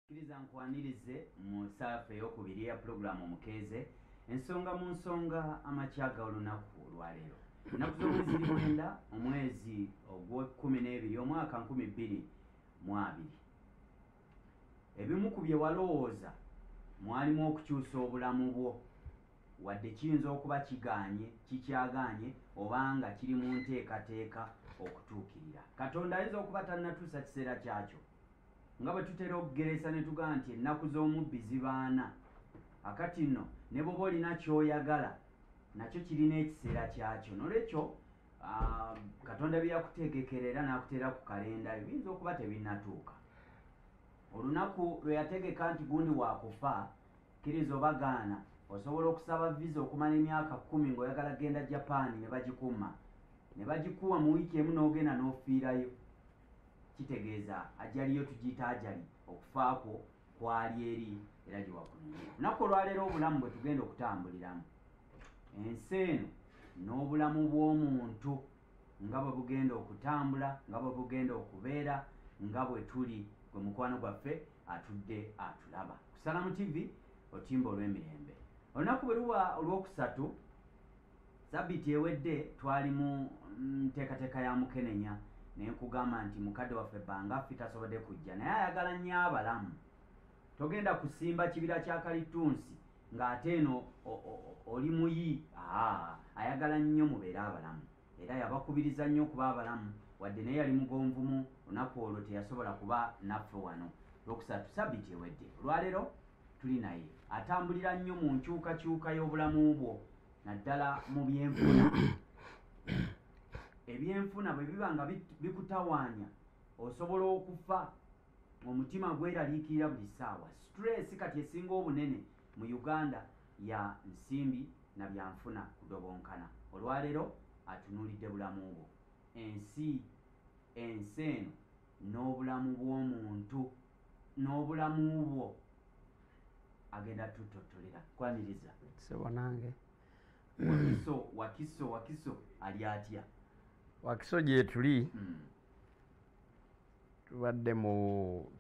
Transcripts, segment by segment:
Kkiriza nkwanirize mu ssaafu ey'okubiri eya pulogulaamu omukeeze. Ensonga mu nsonga amakya g'olunaku olwaleero. Ennaku z'omuli ziri mwenda, omwezi ogw'ekkumi n'ebiri, omwaka nkumi bbiri mu abiri. Ebimu ku bye walowooza mwalimu okukyusa obulamu bwo. Wadde kiyinza okuba kigaanye, kikyagaanye, oba nga kiri mu nteekateeka okutuukirira, Katonda ayinza okuba tannatuusa kiseera kyakyo. Nga bwe tutera okugeresa ne tugamba nti ennaku z'omubbi ziba ana, kaakati nno ne bw'oba olina ky'oyagala, nakyo kirina ekiseera kyakyo. N'olwekyo, Katonda bye yakutegekera era n'akuteera ku kalenda yo biyinza okuba tebinnatuuka. Olunaku lwe yategeka nti gundi wa kufa, kkiriza oba gaana, osobola okusaba viza okumala emyaka kkumi ng'oyagala kugenda Japan ne bagikuumma, ne bagikuwa mu wiiki emu n'ogenda n'ofiirayo. kitegeeza ajali yo tugiyita ajali okufa kwo kwali eri era gyewakuliire lunaku olwaleero obulamu bwe tugenda okutambuliramu ensi eno n'obulamu bw'omuntu nga bwe bugenda okutambula nga bwe bugenda okubeera nga bwe tuli gwe mukwano gwaffe atudde atulaba kusalamu tivi otimba olw'emirembe olunaku bwe luba olwokusatu Sabiti ewedde twali mu nteekateeka ya mukenenya naye nkugamba nti mukadde waffe bbanga ffe tasobodde kujja naye ayagala nnyo abalamu togenda kusimba kibira kya kalittunsi ng'ate eno oli muyi ayagala nnyo mubeere abalamu era yabakubiriza nnyo okuba abalamu wadde naye yali mugonvumu lunaku olwo teyasobola kuba naffe wano lwokusatu sabiti ewedde olwaleero tuli naye atambulira nnyo mu nkyukakyuka y'obulamu bwo naddala mu byenfuna ebyenfuna bwe biba nga bikutawaanya osobola okufa omutima gweraliikirira buli ssaawa stress kati esinga obunene mu uganda ya nsimbi na byanfuna kudobonkana olwaleero atunuulidde bulamu bwo ensi ensi eno n'obulamu bw'omuntu n'obulamu bwo agenda tutottolera kwaniriza sebo nange wakiso wakiso wakiso ali atya wakiso gyetuli hmm. tubadde mu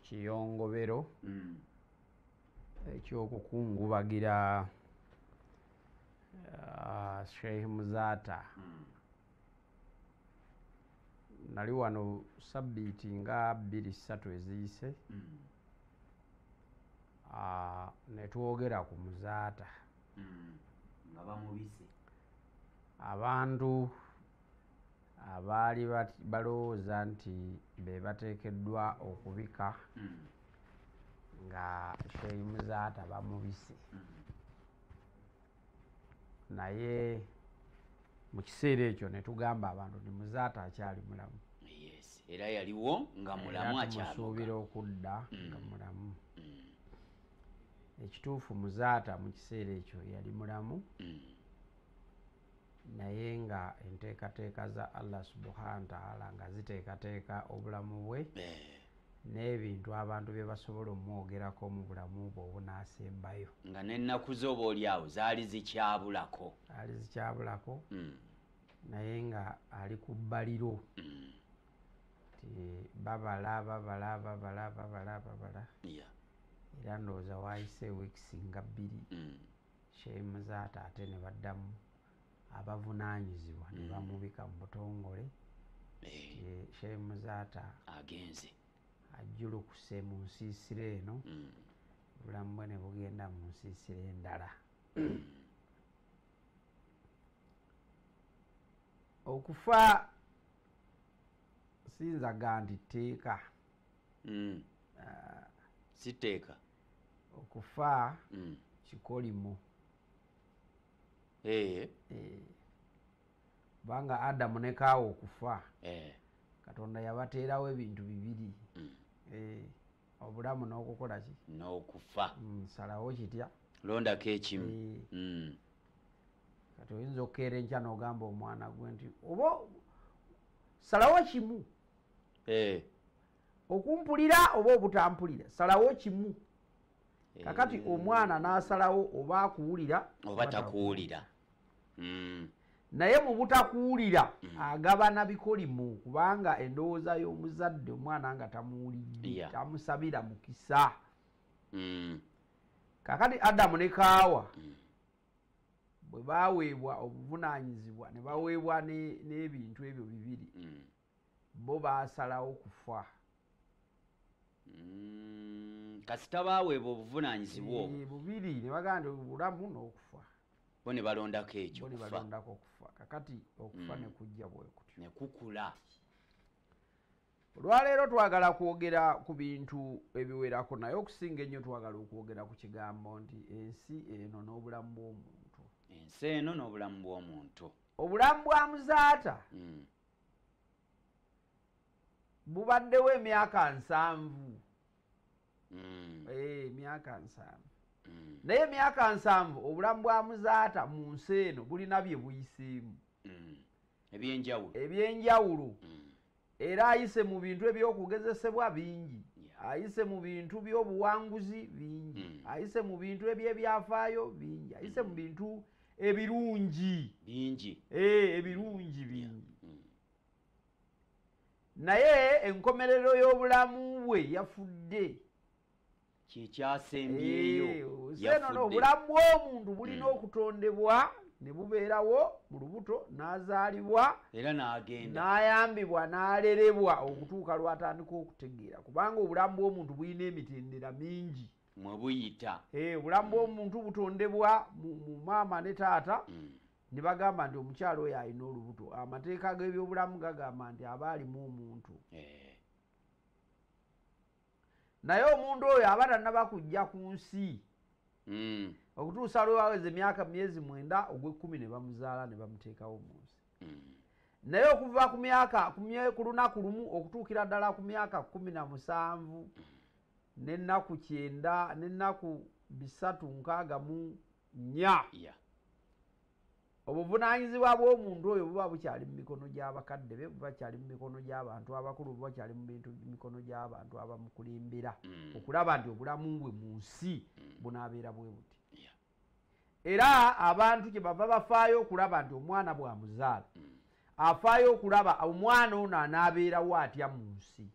kiyongobero hmm. ekyokukungubagira ah, sheikh muzaata hmm. nali wano sabbiiti nga bbiri ssatu eziyise mm. ah, ne twogera ku muzaata mm. nga bamubise abantu abaali balowooza nti be bateekeddwa okubika mm. nga sheyi muzaata bamubise naye mu kiseera ekyo ne tugamba abantu nti muzaata akyali mulamu era yaliwo nga mulamu akyamusuubira okudda mm. nga mulamu mm. ekituufu muzaata mu kiseera ekyo yali mulamu mm. naye nga enteekateeka za allah subhana taala nga ziteekateeka obulamu bwe eh. n'ebintu abantu bye basobola omwogerako mu bulamu bwe obunaasembayo nga n'ennaku ze oba oli awo zaali zikyabulako ali zikyabulako mm. naye nga ali ku bbaliro mm. ti babala babala babala babala babala yeah. era ndowooza waayise wiikisi nga bbiri mm. sheemu zaata ate ne baddamu abavunaanyizibwa ne mm. bamubika mu butongole eh. shee muzaata agenze ajjulukuse mu nsiisira eno mm. obulamu bwe ne bugenda mu nsiisira endala okufa sinzaga nti tteeka mm. ah. sitteeka okufa kikolimo kubanga eh. eh. adamu ne kaawa okufa eh. katonda yabateerawo ebintu bibiri mm. obulamu n'okukola ki n'okufa mm, salawo kitya londako ekimu mm. kati oyinza okukeera enkya n'ogamba omwana gwe nti oba salawo kimu okumpulira oba obutampulira salawo kimu eh. kakati omwana n'asalawo oba akuwulira oba takuwulira hmm. naye mu butakuwulira hmm. agabana bikolimu kubanga endowooza y'omuzadde omwana nga tamuwulidde tamusabira mukisa hmm. kakati adamu ne kaawa bwe baweebwa obuvunaanyizibwa ne baweebwa n'ebintu ebyo bibiri bo basalawo kufa mm, kasita baweebwa obuvunanyizibwa obwo eh, bubiri ne bagamba nti obulamu n'okufa bo ne balondako ekyo bo ne balondako okufa kakati okufa mm. ne kujja bwe kutyo ne kukula olwaleero twagala kwogera ku bintu ebiwerako naye okusinga ennyo twagala okwogera ku kigambo nti ensi eno n'obulamu bw'omuntu ensi eno n'obulamu bw'omuntu obulamu bwa muzaata mm. bubaddewo emyaka nsanvu hmm. eh, emyaka nsanvu hmm. naye emyaka nsanvu obulamu bwa muzaata mu nsi eno bulina bye buyiseemu hmm. ebyenjawulo ebyenjawulo era ayise mu bintu ebyokugezesebwa bingi ayise mu bintu byobuwanguzi bingi ayise mu bintu ebyebyafaayo bingi ayise mu bintu ebirungi bingi eh, ebirungi bingi mm. naye enkomerero y'obulamu bwe yafudde kyekyasembyeyo eh, obulamu bw'omuntu bulina mm. okutondebwa ne bubeerawo mu lubuto n'azaalibwa era n'agenda n'ayambibwa n'alerebwa okutuuka lw'atandika okutegeera kubanga obulamu bw'omuntu bulina emitendera mingi mwebuyita eh, obulamu bwomuntu butondebwa mu maama ne taata mm. ne bagamba nti omukyalo oyo alina olubuto amateeka g'ebyobulamu gagamba nti aba alimu omuntu eh. naye omuntu oyo aba tanaba kujja ku nsi mm. okutuusa lwewaweza emyaka myezi mwenda ogwekkumi ne bamuzaala ne bamuteekawo mu nsi mm. naye okuva ku myaka ku lunaku lumu okutuukira ddala ku myaka kumi na musanvu n'ennaku kyenda n'ennaku bisatu nkaaga mu nnya yeah. obuvunaanyizibwa bw'omuntu oyo buba bukyali mu mikono gy'abakadde be buba kyali mu mikono gy'abantu abakulu buba kyali mu bintu mikono gy'abantu abamukulimbira mm. okulaba nti obulamu bwe mu nsi mm. bunaabeera bwe buti era abantu kye bava bafaayo okulaba nti omwana bwamuzaala mm. afaayo okulaba omwana ono anaabeerawo atya mu nsi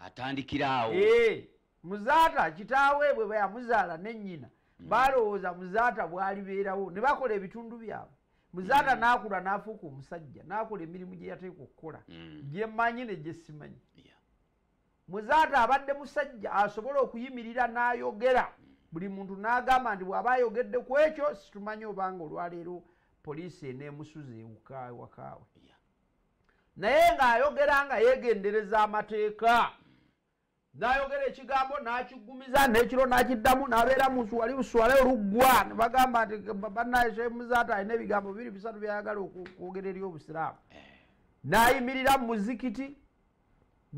atandikiraawo eh, muzaata kitaawe bwe bayamuzaala ne nnyina mm. baalowooza muzaata bwalibeerawo ne bakola ebitundu byabwe muzaata mm. n'akula n'afuuka omusajja n'akola emirimu gye yateeka okukola mm. gye mmanyi ne gye simanyi muzaata abadde musajja asobola okuyimirira n'ayogera buli muntu n'agamba nti bw'aba ayogedde ku ekyo situmanyi obanga olwaleero poliisi eneemusuza ewuka ewakaawe naye ng'ayogera nga yeegendereza amateeka n'ayogera ekigambo n'akiggumiza n'ekiro n'akiddamu n'abeera mu wali uswale oluggwa ne bagamba nti bannaye shemuzaata alina ebigambo bibiri bisatu byayagala okwogera eri obusiraamu eh. n'ayimirira mu muzikiti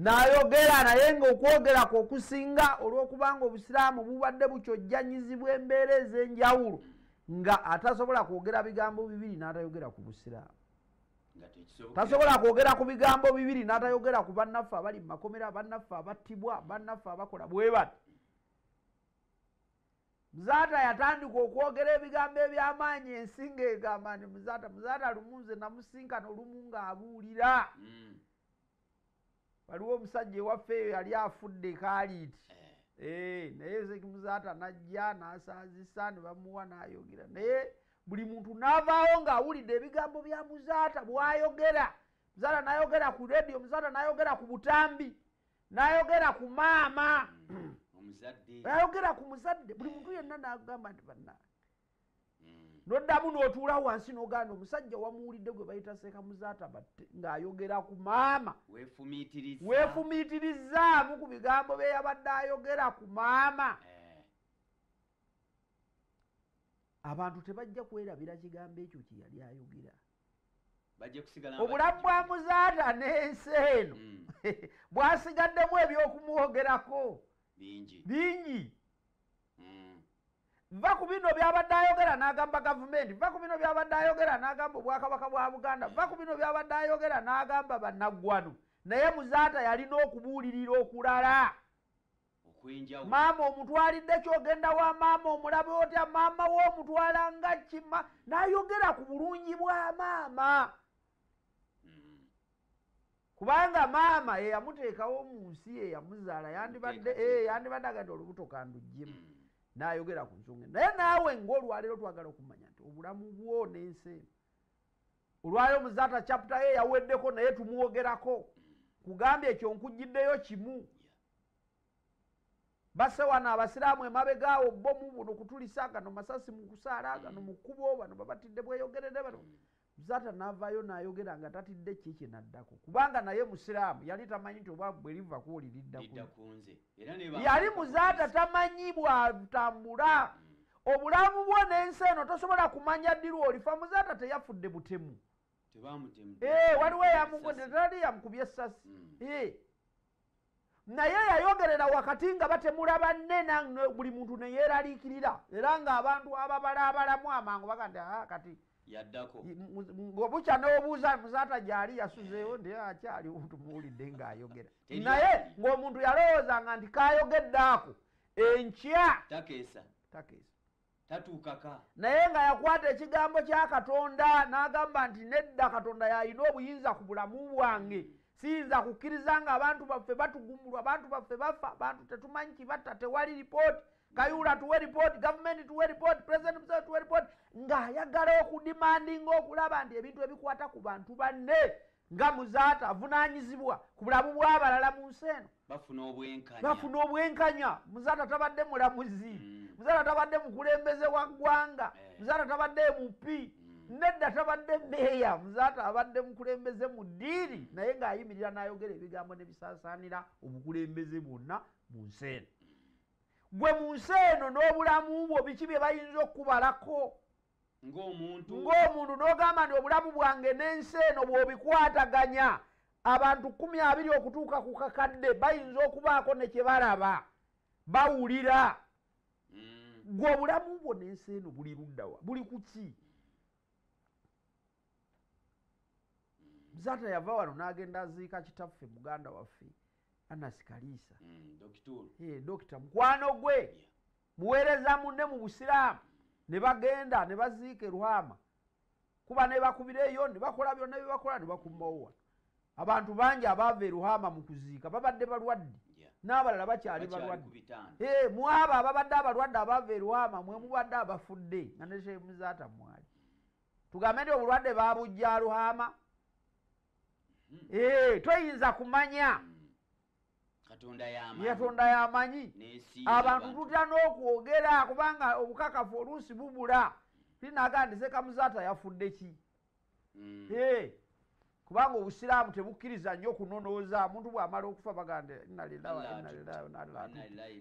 n'ayogera naye ng'okwogera kwe okusinga olw'okubanga obusiraamu bubadde bukyojjanyizibwa embeera ez'enjawulo nga atasobola kwogera bigambo bibiri n'atayogera ku busiraamu tasobola kwogera ku bigambo bibiri n'atayogera ku bannaffe abali mu makomera bannaffe abattibwa bannaffe abakola bwe bati muzaata yatandika okwogera ebigambo eby'amaanyi ensi ng'egamba nti muzaata muzaata lumu nze namusinkana olumu ng'abuulira mm. waliwo omusajja ewaffe eyo yali afudde kaaliiti eh. eh, naye ezekimuzaata najja nasaazisa ne bamuwa nayogera naye buli muntu navaawo ng'awulidde ebigambo bya muzaata bwayogera muzaata nayogera ku rediyo muzaata nayogera ku butambi nayogera ku maama hmm, nayogera ku muzadde buli muntu yenna nagamba nti banange mm. noddamu n'otuula wansi n'ogaana omusajja wamuwulidde gwe bayita seeka muzaata batte ng'ayogera ku maama weefumiitirizaamu ku bigambo bye yabadde ayogera ku maama eh. abantu tebajja kwerabira kigambo ekyo kye yali ayogera obulamu bwa muzaata n'ensi eno mm. bwasigaddemu eby'okumwogerako bingi bingi mm. va ku bino byabadde ayogera n'agamba gavumenti va ku bino byabadde ayogera n'agamba obwakabaka bwa buganda va ku bino byabadde ayogera n'agamba bannaggwano naye muzaata yalina okubuulirira okulala maama omutwalidde kyogenda wa maama omulabe otya maama we omutwala nga kima nayogera ku bulungi bwa maama mm. kubanga maama eyamuteekawo mu nsi eyamuzaala yandibadde eh, agadde olubuto kandujjemu mm. nayogera ku nsonga naye naawe ngaolwaleero twagala okumanya nti obulamu bwo n'ensi eno olwaleero muzaata chapta ye yaweddeko naye tumwogerako kugambye ekyo nkugiddeyo kimu base wano abasiraamu emabegaawo bomu buno kutulisa gano masasi mu kusaala gano mu kkubo bano babatidde bweyogerere bano mm. Zata navayo nayogera nga tatidde ki kyenaddako kubanga naye musiraamu yali tamanyi nti obwavu bwe liva kuoli lidda kunze yali muzata tamanyi bwatambula mm. obulamu bwo n'ensi eno tosobola kumanya ddi lwolifa muzata teyafudde butemu ee eh, waliwo eyamugodde tali yamukubye essasi ee mm. eh. naye yayogerera wakati nga batemula banne nange buli muntu neyeraliikirira era ng'abantu ababalaabalamu amangu baga nti aa kati yaddako ngobukya n'obuuza muzaata gyali yasuzeewo ndi akyali tumuwulidde ng'ayogera naye ng'omuntu yalowoozanga nti kayogedde ako enkya takeesa takeesa tatuukaka naye nga yakwata ekigambo kya katonda n'agamba nti nedda katonda yalina obuyinza ku bulamu bwange mm. siyinza kukkiriza nga abantu baffe batugumbulwa abantu baffe bafa abantu tetumanyi kibatta tewali ripooti kayuula tuwe ripooti gavumenti tuwe ripooti pulezidenti museve tuwe ripooti ng'ayagala okudimandinga okulaba nti ebintu ebikwata ku bantu banne nga muzaata avunaanyizibwa ku bulamu bw'abalala mu nsi eno bafuna obwenkanya muzaata tabadde mulamuzi mm. muzaata tabadde mukulembeze wa ggwanga eh. muzaata tabadde mupi mm. nedda tabadde meeya muzaata abadde mukulembeze mu ddiiri mm. naye ng'ayimirira n'ayogera ebigambo ne bisaasaanira obukulembeze bwonna mu nsi eno gwe mu nsi eno n'obulamu bwo biki bye bayinza okukubalako ng'omuntu ng'omuntu n'ogamba nti obulamu bwange n'ensi eno bw'obikwataganya abantu kumi abiri okutuuka ku kakadde bayinza okubaako ne kye balaba bawulira mm. gwe obulamu bwo n'ensi eno buli luddawa buli ku ki zata yava wano n'agenda aziika kitaffe muganda waffe anasi kaliisa mm, dokita mukwano gwe muweereza munne mu busiraamu ne bagenda ne baziika erwama kuba nebakubira eyo nebakola byonna byebakola nebakumawowa abantu bangi abaava eruhama mu kuziika babadde balwadde n'abalala bakyali balwadde eh, mwabo ababadde abalwadde abaava eruhama mwe mubadde abafudde nga ne shemuzaata mwali tugambe nti obulwadde babujja aruhama hmm. eh, toyinza kumanya hmm. yatonda yamanyi abantu tutya n'okwogera kubanga obukakafu oluusi bubula tinaga nti sekamuzaata yafudde ki mm. kubanga obusiraamu tebukkiriza nnyo okunonooza omuntu bw'amala okufa bagande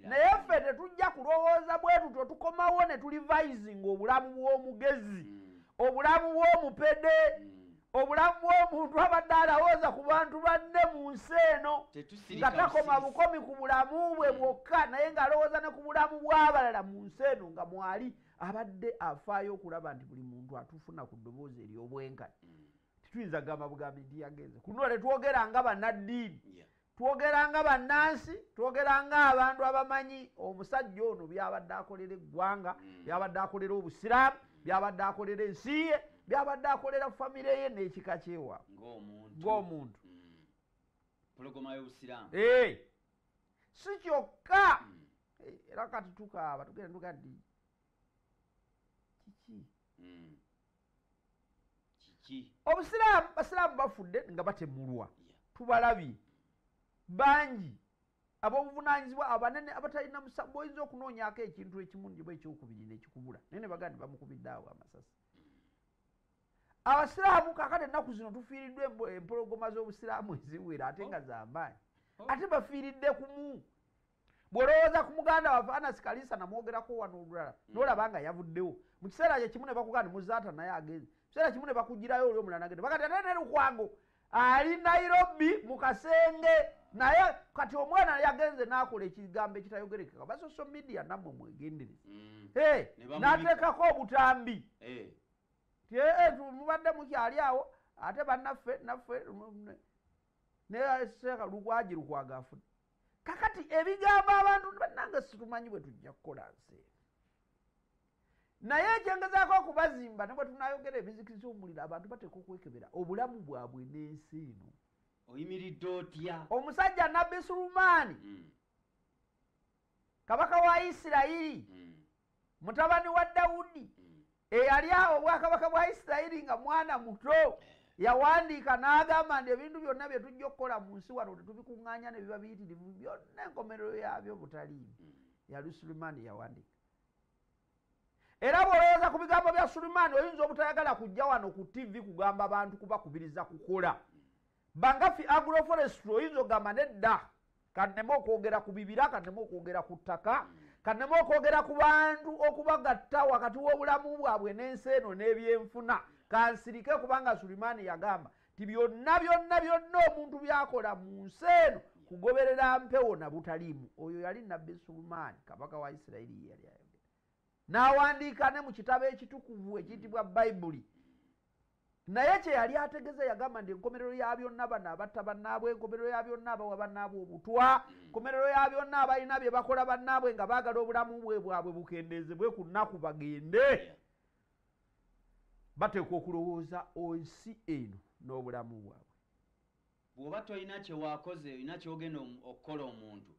naye ffe tetujja kulowooza bwe tutyo tukomawo ne tulivayizinga obulamu bw'omugezi mm. obulamu bw'omupede mm. obulamu bw'omuntu abadde alawooza ku bantu banne mu nsi eno nga takoma bukomi ku bulamu bwe mm. bwokka naye ng'alowooza ne ku bulamu bw'abalala mu nsi eno nga mwali abadde afaayo okulaba nti buli muntu atufuna ku ddoboozi ery'obwenkani mm. tituyinza gamba bugambi nti yagenze kunoole twogera nga banaddiini twogera nga bannansi twogera nga abantu abamanyi omusajja ono byabadde akolera eggwanga mm. byabadde akolera obusiraamu byabadde akolera ensi ye byabadde akolera famire ye n'ekika kyewa ng'omuntu mm. eh, si kyokka mm. eh, era kati tukaaba tugenda tugaddi kiki obusiraamu basiraamu bafudde nga batemulwa tubalabye bangi abobuvunanyizibwa abanene abatalina musabu oyinza okunoonyako ekintu ekimu njiba ekyokubiri nekikubula naye ne bagandi bamukubidde awo amasasi abasiraamu kakati ennaku zino tufiiriddwa empologoma z'obusiraamu eziwera ate nga oh. zamaanyi oh. ate bafiiridde kumu bwolowooza ku muganda waffe anasi kalisa namwogerako wano olulala mm. nolaba nga yavuddewo mu kiseera kye kimu ne bakuganda muzaata naye agenze kiseera kimu ne bakugirayo oli omulala nagende bakati ate ne lukwango ali nairobi mu kasenge naye kati omwana yagenze nakola ekigambo ekitayogerekeka basoso media namwe mwegendereza mm. nateekako obutambi eh. ti eh, eh, mubadde mukyali awo ate banaffe naffe ne seeka lukwaji lukwaga afuna kakati ebigambo abantu bannange situmanyi bwe tujja kukola nsi eno naye ekyengezaako okubazimba ne bwe tunayogera ebizikiza omuliro abantu bateeka okwekebera obulamu bwabwe n'ensi eno oyimiridde otya omusajja nabbi sulumaani mm. kabaka wa isirayiri mm. mutabani wa dawudi mm. eyali awo obwakabaka bwa isirayiri nga mwana muto eh. yawandiika n'agamba nti ebintu byonna bye tujja okukola mu nsi wano tetubikuŋŋanya ne biba biyitirivu byonna enkomerero yabyo butaliimu mm. yali sulimaani yawandiika era bw'olowooza ku bigambo bya sulimaani oyinza obutayagala kujja wano ku tivi kugamba bantu kubakubiriza kukola mm. Bangafi agroforestry oyinza ogamba nedda kanema okwogera ku bibira kanema okwogera ku ttaka kanema okwogera ku bantu okubagatta wakati w'obulamu bwabwe n'ensi eno n'ebyenfuna kansirike kubanga sulimaani yagamba nti byonna byonna byonna omuntu byakola mu nsi eno kugoberera mpewo na butaliimu oyo yali nabbi sulimaani kabaka wa isirayiri yeyali ayogera n'awandiika ne mu kitabo ekitukuvu ekiyitibwa bayibuli naye kyeyali ategeza yagamba nti enkomerero ya byonna bano abatta bannaabwe enkomerero ya byonna abawa bannaabwe obutwa enkomerero mm. ya byonna abalina bye bakola bannaabwe nga baagala obulamu bwe bwabwe bukendeezebwe ku nnaku bagende bateekwa okulowooza ensi eno n'obulamu bwabwe bw'oba tolina kyewakoze olina kyogenda okukola omuntu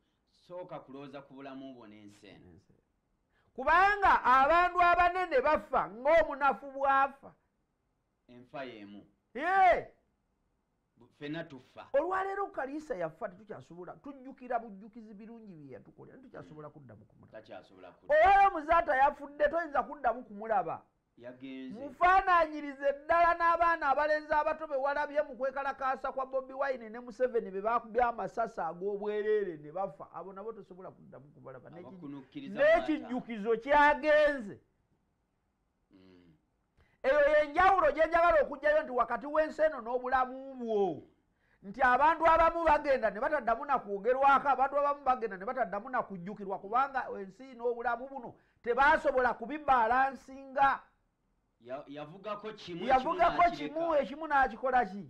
sooka kulowooza ku bulamu bwo n'ensi eno kubanga abantu abanene bafa ng'omunafu bwafa enfa yemu fena tufa olwaleero kaliisa yafa tetukyasobola tujjukira bujjukizi birungi bye yatukolera tetukyasobola mm. kuddamu kumulaba olwaleero muzaata yafudde toyinza kuddamu kumulaba mufaananyirize ddala n'abaana abalenzi abato be walabye mu kwekalakaasa kwa bobi wine ne museveni be bakubya amasasi ag'obwereere ne bafa abo nabo tosobola kuddamu kubalaba n'ekijjukizo kyagenze mm. eyo yenjawulo gyenjagala okugjayo nti wakati w'ensi eno n'obulamu bwo nti abantu abamu bagenda ne bataddamu na kwogerwako abantu abamu bagenda ne bataddamu na kujjukirwa kubanga ensi n'obulamu buno tebasobola kubibalansinga yavugako kimu ekimu n'akikola ki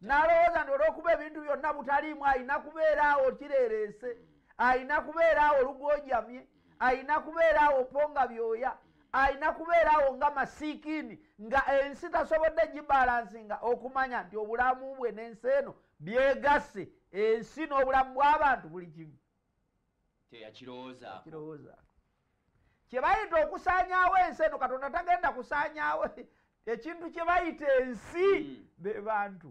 n'alowooza nti olw'okuba ebintu byonna butaliimu alina kubeera awo kireereese hmm. alina kubeera awo lugojamye alina kubeera awo po nga byoya alina kubeera awo nga masiikiini nga ensi tasobodde gibalansi nga okumanya nti obulamu bwe n'ensi eno byegasse ensi n'obulamu bw'abantu buli kimu teyakirowooza kye bayita okusaanyawo ensi eno katonda tagenda kusaanyawo ekintu kye bayita ensi hmm. be bantu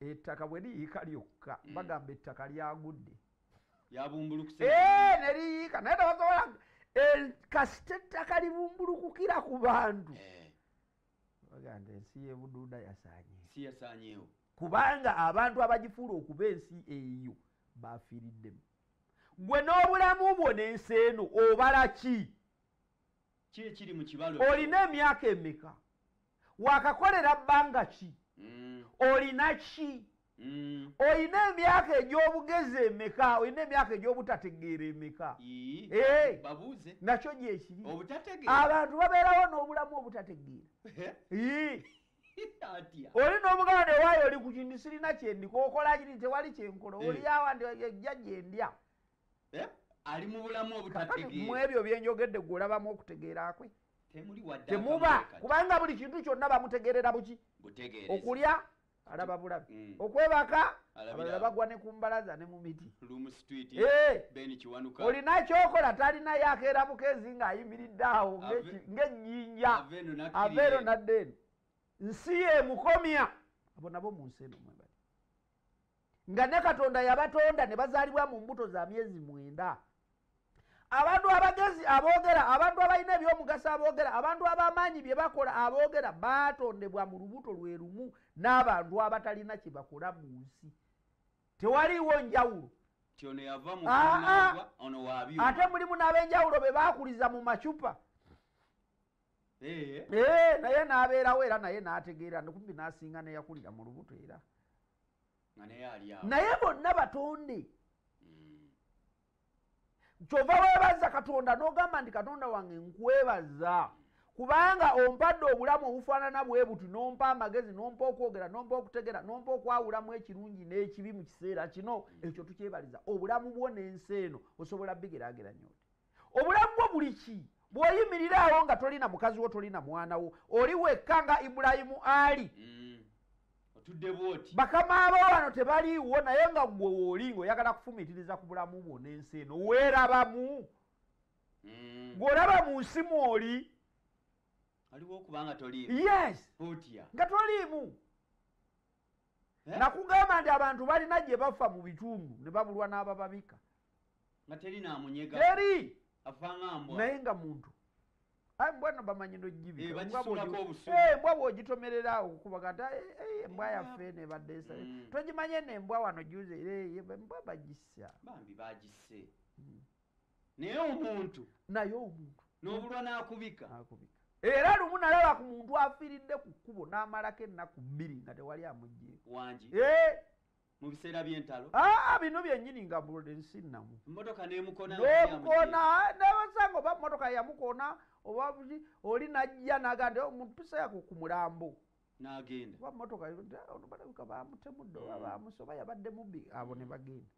ettaka bwe liyiika lyokka mm. bagamba ettaka lyagudde yabumbulukuse eh, ne liyiika naye tebasobola eh, kasita ettaka libumbulukukira ku bantu eh. bagamba ensi yebuduuda yasanyeewo kubanga abantu abagifuula okuba ensi eyo bafiiriddemu gwe n'obulamu bwo n'ensi eno obala ki olina emyaka emeka wakakolera bbanga ki mm. olina ki mm. olina emyaka egy'obugezi emeka olina emyaka egy'obutategeera emeka eh, nakyo gyekiri abantu babeerawo n'obulamu obutategeera oli n'omugana newaayo oli ku kintu sirina kyendiko okola kiri tewali kyenkola eh. oli awa ndi ejja gyendya eh? ali mu bulamu obutategeera mu ebyo bye njogedde gwe olabamu okutegeera kwe temuba kubanga buli kintu kyonna bamutegeerera buki okulya alaba bulabi mm. okwebaka abalala bagwa ne ku mbalaza ne mu miti eh! olina kyokola talinayo akeera mukeezi ng'ayimiridde awo ng'ennyinja aveero naddeeno nsi yemukomya abo nabo mu nsi eno mwebali nga ne katonda yabatonda ne bazaalibwa mu mbuto za myezi mwenda abantu abagezi aboogera abantu abalina ebyomugaso aboogera abantu abamaanyi bye bakola aboogera baatondebwa mu lubuto lwe lumu n'abantu abatalina kye bakola mu nsi tewaliiwo njawulo ate mulimu n'ab'enjawulo be baakuliza mu macupa Eh. Eh, naye nabeerawo era naye nategeera kumbi nasinga neyakulira mu lubuto era naye bonna batonde hmm. kyova webaza katonda nogamba nti katonda wange nkwebaza kubanga ompadde obulamu obufaanana bwebuti nompa amagezi nompa okwogera nompa okutegera nompa okwawulamu ekirungi n'ekibi mu kiseera kino hmm. ekyo tukyebaliza obulamu bwo n'ensi eno osobola bigerageranya oti obulamu bwo buli ki bw'oyimirira awo nga toli na mukazi wo toli na mwana wo oli wekka nga ibulayimu ali mm. bakama abo wano tebaliiwo naye nga gwe wooli ng'oyagala kufumiitiriza ku bulamu bwo n'ensi eno weerabamu mm. gw'olaba mu nsi mwoli yes nga toliimu eh? nakugamba nti abantu balina gye bafa mu bitundu ne babulwa n'abababika nga teri namunyega teri naye nga muntu ayi mbwa no bamanyi nojibikambwa eh, bwogitomerera awo kukubaga nti eh, embwa yaffe nebadde esa mm. togimanye nembwa wano juze mbwa bagisa bambi bagise mm. naye omuntu naye omuntu n'obulwa n'akubika akubika era lumu nalaba ku muntu afiiridde ku kkubo n'amalako ennaku bbiri nga tewali amugjeeko wangi eh! mu biseera by'entalo aa ah, bino byennyini nga ensi nnamu mmotoka n'emukona n'emukona nebasanga oba mmotoka yamukona oba oli najja naga nti oh, omuntu tusayako ku mulambo n'agenda oba mmotoka ono balabika bamutemudde oba bamusi oba yabadde mubbi abo ne bagenda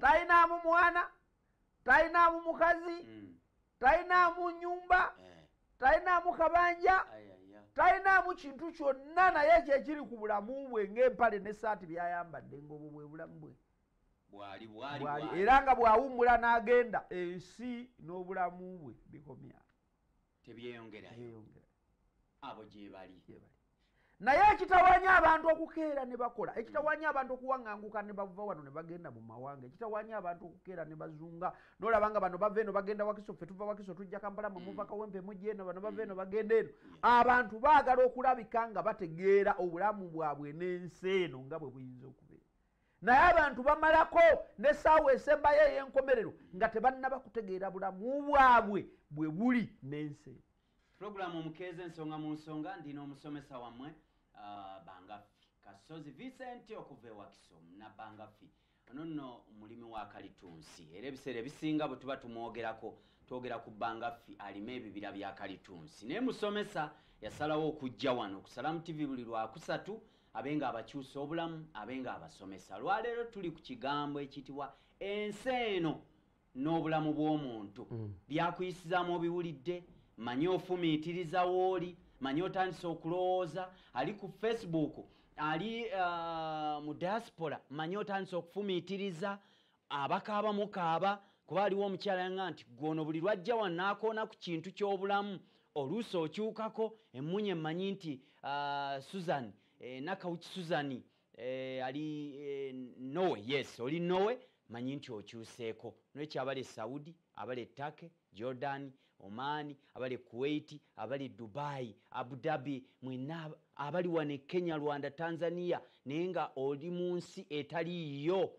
talinaamu mwana talinaamu mukazi mm. talinaamu nyumba eh. talinaamu kabanja talinaamu kintu kyonna naye kyekiri ku bulamu bwe ngaempale nesaati byayambadde ngaobwo bwe bulamu bwe era nga bwawummula n'agenda ensi n'obulamu bwe bikomyao tebyeyongerayo abo gyebali naye ekitawanya abantu okukeera ne bakola ekitawanya abantu okuwaŋanguka ne bava wano ne bagenda mu mawanga ekitawanya abantu okukeera ne bazunga nolaba nga bano bava eno bagenda wakiso ffe tuva wakiso tujja kampala mwe muva mm. kawempe mujja eno bano bava eno bagenda eno abantu baagala okulabika nga bategeera obulamu bwabwe n'ensi eno nga bwe buyinza okubeera naye abantu bamalako nesaawa esembayo eyenkomerero nga tebannaba kutegeera bulamu bwabwe bwe buli n'ensi pulogulaamu omukeeza ensonga mu nsonga ndina omusomesa wammwe ah, bangafi kasozi vincent okuva ewakiso nabangafi ono nno mulimi wa kalitunsi era ebiseera ebisinga bwe tuba tumwogerako twogera ku bangafi alima ebibira bya kalitunsi naye musomesa yasalawo okujja wano okusalamu tivi buli lwakusatu abe nga abakyusa obulamu abe nga abasomesa lwaleero tuli ku kigambo ekiyitibwa ensi eno n'obulamu bw'omuntu mm. byakuyisizaamu obiwulidde manye ofumiitiriza wooli manye otandise okulowooza ali ku facebook ali uh, mu diaspora manye otandise okufumiitiriza abakaaba mukaaba kuba aliwo omukyala yanga nti gwono buli lwajja wanaakoona ku kintu ky'obulamu oluusi okyukako emmunye mmanyi nti ah, susan eh, nakawuki susani eh, ali eh, nowe yes oli nowe manyi nti okyuseeko nolwekyo abali saudi abali etake jordan omani abali kuwaiti abali dubai abudabi mwena abali wane kenya rwanda tanzania naye nga oli mu nsi etaliiyo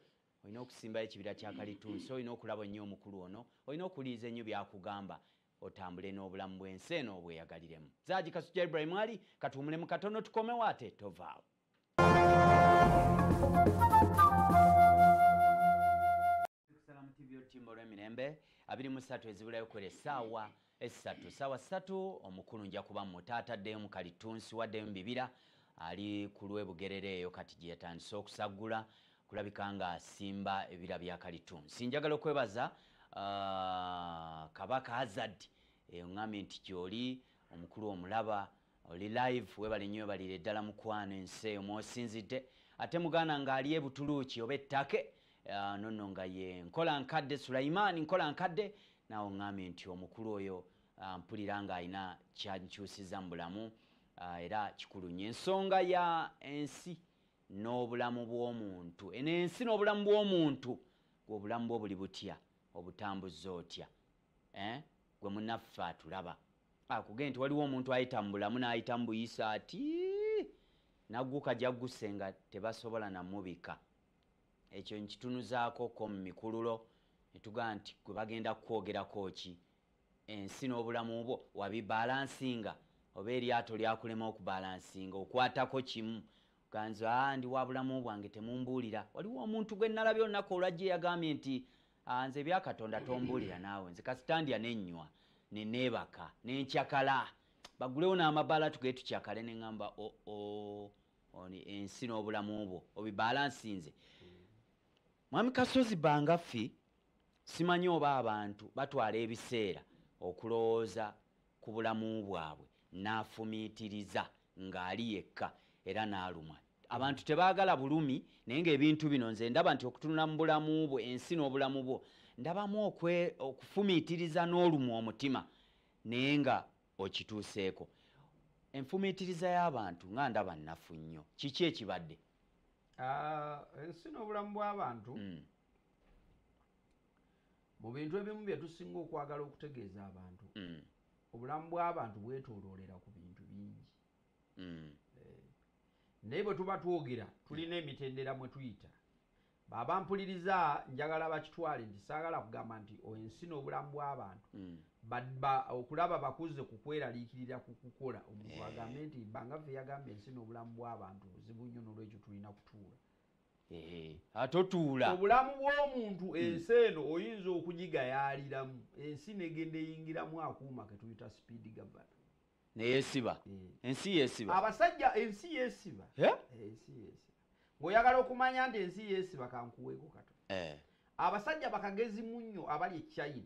olina okusimbayo ekibira kya kalitunsi olina okulaba nnyo omukulu ono olina okuwuliriza ennyo byakugamba otambule n'obulamu bw'ensi eno obweyagaliremu zaagi kasujja ibrahim ali katuwumulemu katono tukomewo ate tovaawo olwemirembe abiri musatu ezibulayo kwera esaawa essatu sawa ssatu omukulu nja kuba mu taata addeyo mu kalittunsi waddeyo mu bibira ali ku lw'e bugerere eyo kati gye yatandise okusaggula kulabika nga asimba ebira bya kalittunsi njagala okwebaza uh, kabaka hazard eyo eh, ngambye nti gyoli omukulu omulaba Oli live webale nyo webalire ddala mukwano ensi eyo mwosinzidde ate muganda nga ali ebutuluuki oba ettake uh, nonno nga ye nkola nkadde sulaiman nkola nkadde naawe oŋŋambye nti omukulu oyo uh, mpulira nga alina kyankyusiza mu bulamu uh, era kikulu nnyo ensonga ya ensi n'obulamu bw'omuntu eno ensi n'obulamu bw'omuntu gwe obulamu bwo buli butya obutambuza otya eh? gwe munaffe atulaba akugee nti waliwo omuntu ayita mu bulamu n'ayita mu buyisa ati naguka jagguse nga tebasobola namubika ekyo nkitunuzaako ko mu mikululo netugaa nti gwe bagenda kukwogerako ki ensi n'obulamu bwo wabibalansinga oba eryato lyakulema okubalansinga okwatako kimu ganza ah, ndi wa bulamu bwange temumbuulira waliwo omuntu gwe nalabye olunaku olwajja eyagambye nti Ah, nze ebya katonda tombulira naawe nze kasita ndya nenywa neneebaka nenkyakala bagulewo n'amabaala tuge tukyakale neŋamba oo oh, oh, ensi n'obulamu bwo obibalansi nze mwami kasozi bangaffi simanyi oba abantu batwala ebiseera okulowooza ku bulamu bwabwe n'afumiitiriza ng'ali yekka era n'alumwa abantu tebaagala bulumi naye ngaebintu bino nze ndaba nti okutunula mu bulamu bwe ensi n'obulamu bwo ndabamu okufumiitiriza n'olumu omutima naye nga okituuseeko enfumiitiriza y'abantu nga ndaba nnafu nnyo kiki ekibadde ah, ensi n'obulamu bw'abantu mm. mu bintu ebimu bye tusinga okwagala okutegeeza abantu mm. obulamu bw'abantu bwetoloolera ku bintu bingi mm. eh, naye bwe tuba twogera tulina emitendera mwe tuyita baba mpuliriza njagala bakitwale nti saagala kugamba nti ensi n'obulamu bw'abantu mm. okulaba bakuze ku kweraliikirira ku kukola omuntu eh. agambe nti bangaffe yagamba ensi n'obulamu bw'abantu buzibu nnyo n'olwekyo tulina kutuula atotuula obulamu bw'omuntu hmm. ensi eno oyinza okugigayaaliramu ensi negenda eyingiramu akuuma ketuyita speed govern neyesiba hmm. ensi yesiba abasajja ensi yesiba eh, ensi yesiba ngaoyagala okumanya nti ensi yesiba kankuweeko kato eh. abasajja bakagezi munnyo abali echina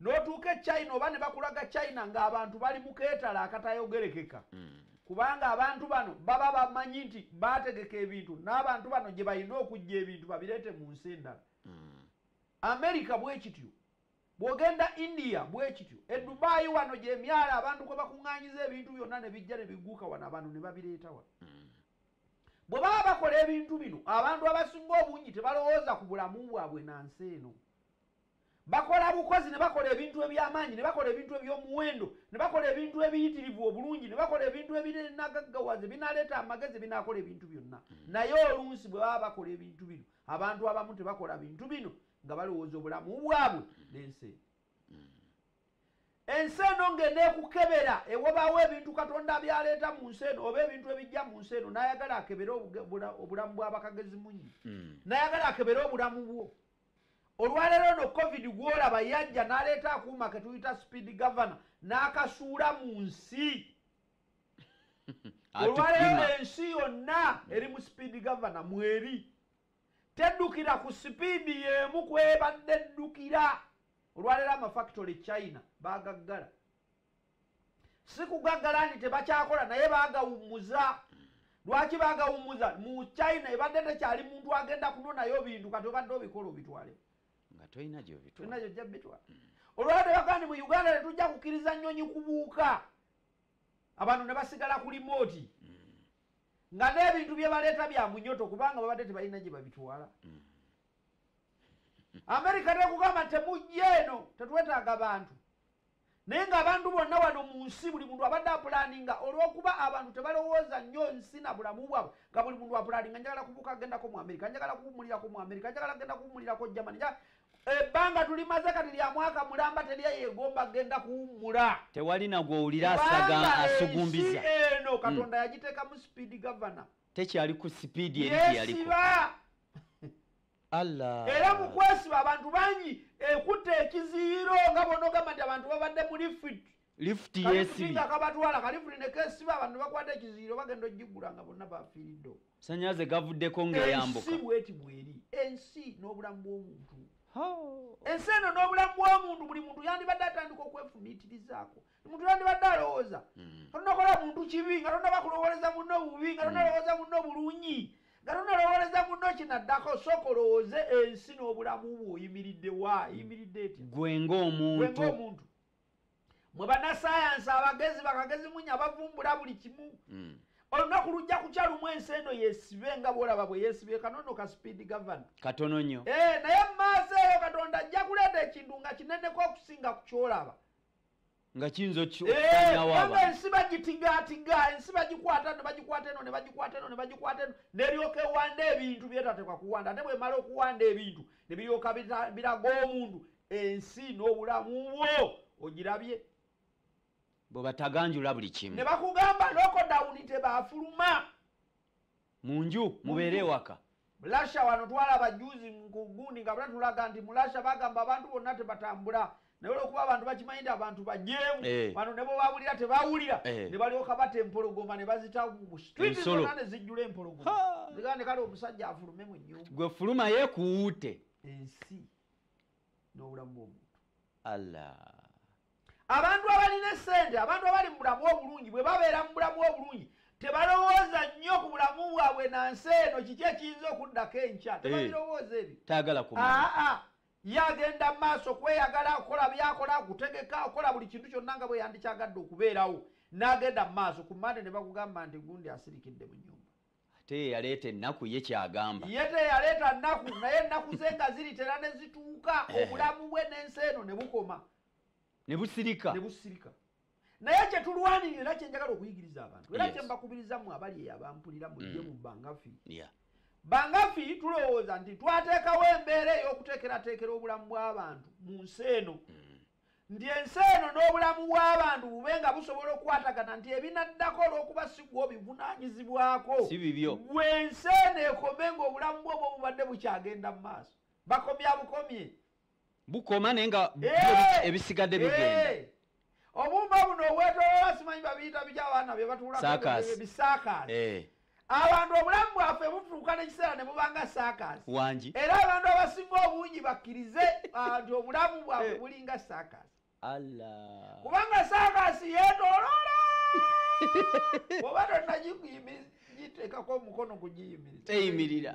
notuuka e china oba ne bakulaga china ng'abantu bali mu keetala akatayogerekeka mm. kubanga abantu bano baba bamanyi nti bategeka ebintu n'abantu bano gye balina okujja ebintu babireete mu nsi endala mm. amerika bwekityo bwogenda india bwekityo e dubaayi wano gyemyalo abantu kwe bakuŋŋanyiza ebintu byonna ne bijja ne bigguuka wano abantu ne babireeta wano mm. bwe baba bakola ebintu bino abantu abasinga obungi tebalowooza ku bulamu bwabwe na nsi eno Bakola bukozi, ne bakola ebintu eby'amaanyi, ne bakola ebintu eby'omuwendo, ne bakola ebintu ebiyitirivu obulungi, ne bakola ebintu ebinagaggawaza, ebinaleeta amagezi, ebinaakola ebintu byonna. Mm. Naye oluusi bwe baba bakola ebintu bino, abantu abamu tebakola bintu bino nga balowooza obulamu bwabwe mm. n'ensi eno. Mm. ensi eno ng'eneekukebera ewobaawo ebintu katonda byaleeta mu nsi eno oba ebintu ebijja mu nsi eno n'ayagala akebere obulamu bw'abakagezi munyi hmm. n'ayagala akebere obulamu bwo olwaleero no covid gwolaba yajja naleeta akuuma ketuyita speed governor n'akasuula mu nsi olwaleero ensi yonna eri mu speed governor mweri teddukira ku sipiidi y'emu kwebadde ddukira olwaleero amafactory china bagaggala sikugaggala nti tebakyakola naye bagawummuza lwaki bagawummuza mu china ebadde tekyali muntu agenda kunonayo bintu kati obadde obikola obitwale nga tolina gyobitwala gyojja bitwala olwabadde bagaa ni mu uganda tetujja kukkiriza nnyonyi kubuuka abantu ne basigala ku limooti nga n'ebintu bye baleeta bya munyoto kubanga babadde tebalina gye babitwala mm. amerika tekugamba temujja eno tetwetaaga bantu naye ng'abantu bonna wano mu nsi buli muntu abadde apulaninga olw'okuba abantu tebalowooza nnyo nsi na bulamu bwabwe nga buli muntu apulaninga njagala kubuka agendako mu amerika njagala kuwumulirako mu amerika njagala genda kuwumulirako germany ebbanga tulimaze kati lya mwaka mulamba terya yegomba genda kuwummula tewali nagwowulira asaga asugumbiza eno hmm. katonda yagiteekamu sipiidi gavana tekyali ku sipiidi eri gyeyaliko era mukwesiba abantu bangi ekutte ekiziyiro nga bonogamba nti abantu babadde mu lifit lifuti yesibi akabatwala kalifuni nekesiba abantu bakwata ekiziyiro bagenda ogigula nga bonna bafiiridde sanyaze gavuddeko ngaeyambuka ensi bweti bweri ensi n'obulamu bw'omuntu ensi eno n'obulamu bw'omuntu buli muntu yandibadde atandika okwefumiitirizaako omuntu yandibadde alowooza hmm. atonakola muntu kibi nga tonaba kulowooleza muno obubi nga tonalowooza hmm. muno bulungi nga tonalowoleza muno kinaddako sooka olowooze ensi n'obulamu bwe oyimiridde wa yimiridde etya gwe ngaomuntu mwe banasayansi abagezi bakagezi munya bavumbula buli kimu hmm. olunaku lujja kukya lumu ensi eno yesibe nga bwolaba bwe yesibe kanono ka speed govern katono nyo eh, naye mumaaso eyo katonda ajja kuleeta ekintu nga kineneko okusinga ku kyolaba nga kiyinza okukinawaaba eh, ensi bagitigaatiga ensi bagikwata ne bagikwata eno ne bagikwata eno ne bagikwata eno neryoka ewanda ebintu byetatekwa kuwanda ate bwemala okuwanda ebintu ne biryoka biraga omuntu ensi n'obulamu bwo ogirabye bwebataganjula buli kimu ne bakugamba lokodawuni tebafuluma munju mubeere ewaka mulasha wano twalaba juzi mukugundi nga batulaga nti mulasha bagamba abantu bonna tebatambula naye olwokuba abantu bakimanyi nti abantu bajeemu eh. bano ne bwebabulira tebawulira eh. ne balyoka bata empologoma ne bazita mu street zonna ne zijjula empologoma zigane kale omusajja afulume mu nyumba gwe fuluma yekuwute ensi n'obulamu bw'omuntu allah abantu abalina esente abantu abali mu bulamu obulungi bwe babeera mu bulamu obulungi tebalowooza nnyo ku bulamu bwabwe na nsi eno kiki ekiyinza okuddako enkya eh, tebabirowooza ebyo tayagala ku ye agenda mu maaso kweyagala okukola byakola okutegeka okukola buli kintu kyonna nga bwe yandikyagadde okubeerawo n'agenda mu maaso ku mande ne bakugamba nti gundi asirikidde mu nyumba ate yeyaleeta ennaku ye kyagamba ye teyaleeta nnaku naye ennaku ze nga ziritera ne zituuka eh. obulamu bwe n'ensi eno ne bukoma ne busirika ne busirika naye kyetulwanirira era kyenjagala okuyigiriza abantu era kyembakubiriza mu abali eyo abampulira mujje mm. mu bangafi bangafi tulowooza nti twateekawo embeera ey'okuteekerateekera obulamu bw'abantu mu nsi eno mm. nti ensi eno n'obulamu bw'abantu bube nga busobola okukwatagana nti ebinaddako olw'okuba si gwe obivunaanyizibwako gwe ensi eno ekome ng'obulamu bwoba obubadde bukyagenda mu maaso bakomya bukomye bukoma naye nga eh! ebisigadde eh! bigenda obuuma buno obwetolola simanyi babiyita biki abaana bye batuulaebisaakaasi eh. abantu obulamu bwaffe butuuka nekiseera ne bubanga saakaasi wangi era abantu abasinga obungi bakkirize ah, nti obulamu bwaffe eh. bulinga saakaasi allah kubanga saakaasi yeetoloola oba tonagiyimiriza giteekako omukono kugiyimiriza teyimirira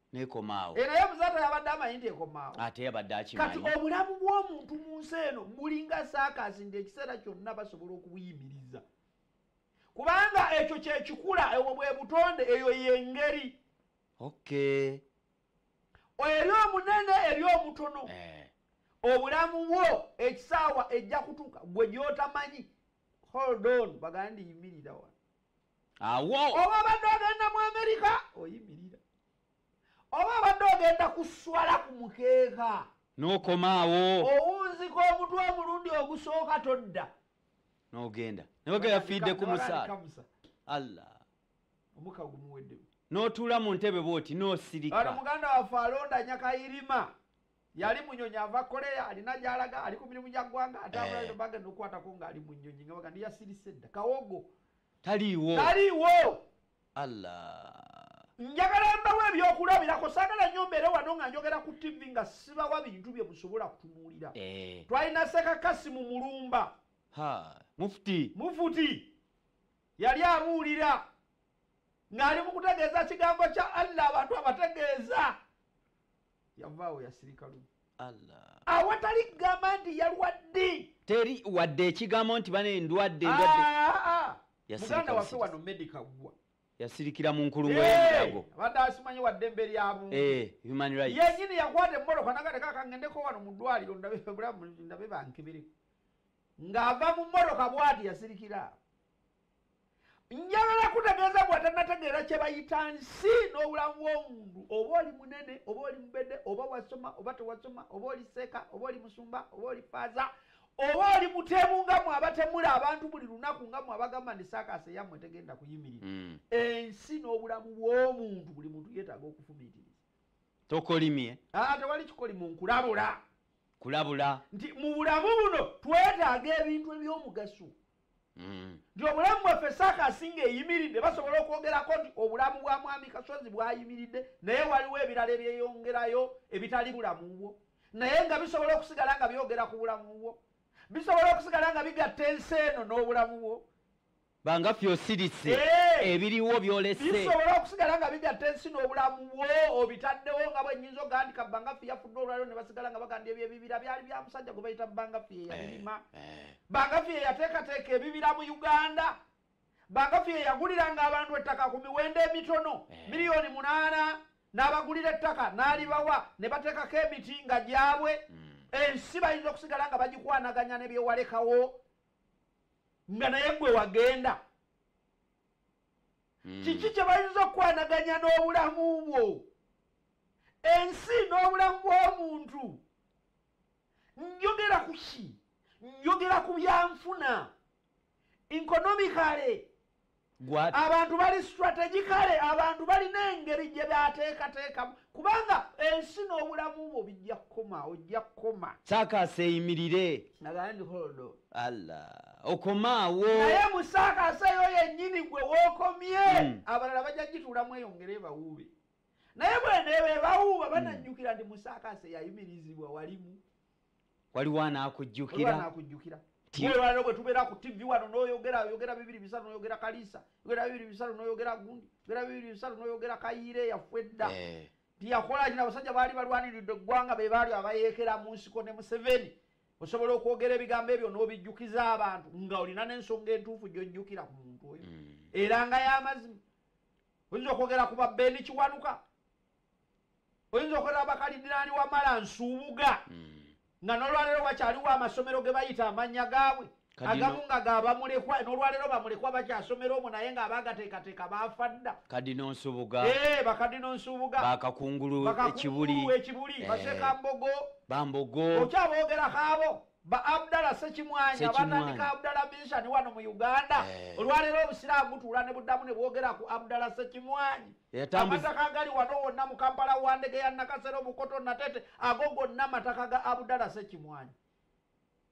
nekomaawo era ye muzaata yabadde amanyi nti ekomaawo ate yabadde akimanyi kati obulamu bw'omuntu mu nsi eno bulinga saakaasi nti ekiseera kyonna basobola okubuyimiriza kubanga ekyo kyekikula ebwo bwe butonde eyo yengeri okay eri omunene eri omutono eh. obulamu bwo ekisaawa ejja kutuuka gwe gyotamanyi hold on bagandi yimirira wano awo oba obadde ogenda mu amerika oyimirira oba obadde ogenda kuswala ku mukeeka n'okomaawo owunzika omutwe omulundi ogusooka todda n'ogenda newega yafiidde ku musaala allah omuka gumuweddemu n'otuula mu ntebe bwoti n'osirika muganda waffe alonda nyakayirima yali munyonyi ava korea alina gyalaga ali ku mirimu gya ggwanga ate eh. abulaino baga nokukwatako nga ali munyonyi nga baga ndiyasirise dda kawogo taliiwo taliiwo allah njagala mbawo ebyokulabirako sagala nyo mbeere wano nga njogera ku tv nga sibawa bintu bye musobola kutunuulira eh. twalina sekakasi mu mulumba mufuti mufuti yali abuulira ng'ali mu kutegeeza kigambo kya allah abantu abategeeza yavaawo yasirika lumu awatali kugamba nti yalwadde teri wadde ekigambo nti bana endwadde endwadde ah, ah, ah. muganda waffe wano medica gwa yasirikira mu nkulumu y'emirago eh, abadde asimanyi wadde emberi yabuntu eh, yenyini yakwata emmoloka nagateka kangendeko wano mu ddwaliro ndabe bankebereko ng'ava mu mmoloka bwati yasirikira njagala kutegeeza gwe atanategeera kye bayita nsi n'obulamu bw'omuntu oba oli munene oba oli mubede oba wasoma oba tewasoma oba oli seeka oba oli musumba oba oli faaza oba oli mutemu nga mwe abatemula abantu buli lunaku nga mwe abagamba nti saakaasa eyammwe tegenda kuyimirira hmm. ensi n'obulamu bw'omuntu buli muntu yeetaaga okufumiitiriza tokolimye ah, tewali kikolimu nkulabula kulabula nti mu bulamu buno twetaaga ebintu eby'omugaso mm. nti obulamu bwaffe saaka asinga eyimiridde basobola okwogerako nti obulamu bwa mwami kasozi bwayimiridde naye waliwo ebirala ebyeyongerayo ebitali bulamu bwo naye nga bisobola okusigala nga byogera ku bulamu bwo bisobola okusigala nga bigatta ensi eno n'obulamu bwo banga ffe osirise eh! ebiriwo byolese bisobola okusigala nga bigatta ensi n'obulamu bwo obitaddewo nga bwenyinza ogandika banga ffe yafudde olwaliro ne basigala nga baganda ebyo ebibira byali bya musajja gwe bayita banga ffe yeyabirima eh, eh. Bagafi yeyateekateeka ebibira mu Uganda. Bagafi yeyaguliranga abantu ettaka ku miwendo emitono eh. miliyoni munaana n'abagulira ettaka n'alibawa ne bateekako emiti nga gyabwe hmm. ensi bayinza okusigala nga bagikwanaganya ne byewalekawo nga naye gwe wagenda hmm. kiki kye bayinza okukwanaganya n'obulamu bwo ensi n'obulamu bw'omuntu njogera ku ki njogera ku byanfuna inkonomikale abantu bali strategikale abantu balina engeri gye bateekateekamu kubanga ensi n'obulamu bwo bijja kukoma ojja kukoma saakaasa eyimirire nagaandiholdo alla okomaawo naye musaakaasa eyo yennyini gwe wookomye hmm. abalala bajja gituulamu eyongere ebawuube naye bwenebebawuuba hmm. bananyukira nti musakase yayimirizibwa walimu waliwo anakujjukiraakujjukira tiwewaliro bwetubeera ku tivi wano noyogera oyogera bibiri bisatu noyogera kalisa yogera bibiri bisatu noyogera gundi yogera bibiri bisatu noyogera kayiire yaffe edda eh. tiyakola kina abasajja baali balwaniridde eggwanga be baali abayeekera mu nsiko ne museveni osobola okwogera ebigambo ebyo n'obijjukiza abantu nga olina n'ensonga entuufu gyojjukira ku muntu oyo mm. era nga y'amazima oyinza okwogera ku babeeni kiwanuka oyinza okwogera bakalidinaani wamala nsuubuga hmm. nga nolwaleero wakyaliwo amasomero ge bayita amannya gaabwe agamu nga gabamulekwa nolwaleero bamulekwa bakyasomera omu naye nga abagateekateeka baafa dda kadino nsubuga eh, bakadino nsubuga bakakungulu ekibuli ekibuli eh. basekambogo bambogo okyaboogera kaabo ba abdala sekimwanyi abatandika abdala mishani wano mu uganda eh. olwaleero obusiraamu butuula ne buddamu ne bwogera ku abdala sekimwanyi amataka agali wano wonna mu kampala wa ndege ya nakasero mukoto natete ago gonna amataka ga abdala sekimwanyi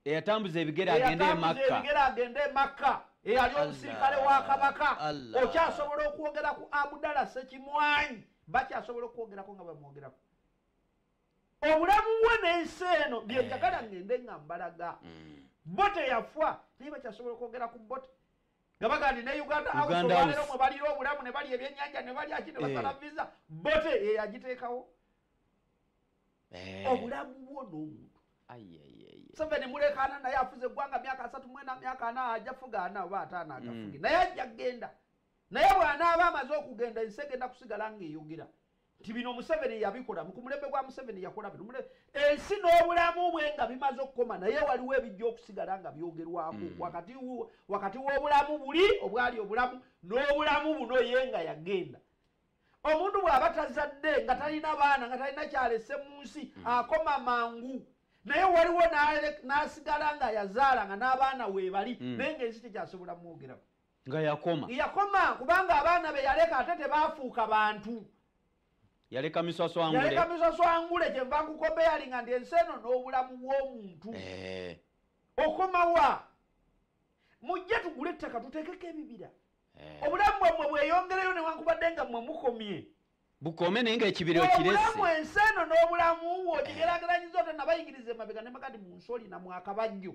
eyatambuza ebigere agende e makka eyali omusirikale wa kabaka okyasobola okwogera ku abdala sekimwanyi bakyasobola okwogerako nga bamwogerako obulamu bwe n'ensi eno byenjagala ngende nga mbalaga bo teyafwa naye bakyasobola okwogera ku bote nga bagandi ne uganda hausebalero mwe balira obulamu ne bali ebyenyanja ne bali aki ne basala eh. visa bote yeyagiteekawo eh. obulamu bwo n'omuntu museveni mulekaana naye afuze eggwanga myaka asatu mwena myaka ana aja fuga ana oba ataana agafuge mm. naye ajja kugenda naye bw'anaaba amaze okugenda ensi egenda kusigala ng'eyogera nti bino museveni yabikola mukumulembe gwa museveni yakola bino ensi n'obulamu bwe nga bimaze okukoma naye waliwo ebijja okusigala nga byogerwako mm. wakati w'obulamu buli obwali obulamu n'obulamu buno ye nga yagenda omuntu bw'aba tazadde nga talina baana nga talina kyalese mu nsi mm. akoma mangu naye waliwo n'asigala nga yazaala nga n'abaana weebali mm. naye ng'ensi tekyasobola mwogerako nga yakoma yakoma kubanga abaana be yaleka ate tebaafuuka bantu yaleka miswaswangueyaleka miswaswangule kyenva nkukobeyalinga nti ensi eno n'obulamu bw'omuntu eh. okomawa mujje tugule ettaka tuteekeko ebibira eh. obulamu bwammwe bweyongereyo newankubadde nga mmwe mukomye bukome naye nga ekibira okiresiobulamu ensi eno n'obulamu wo kigerageranyiza ote nabayigiriza emabega ne makati mu nsi olina mwakabajjo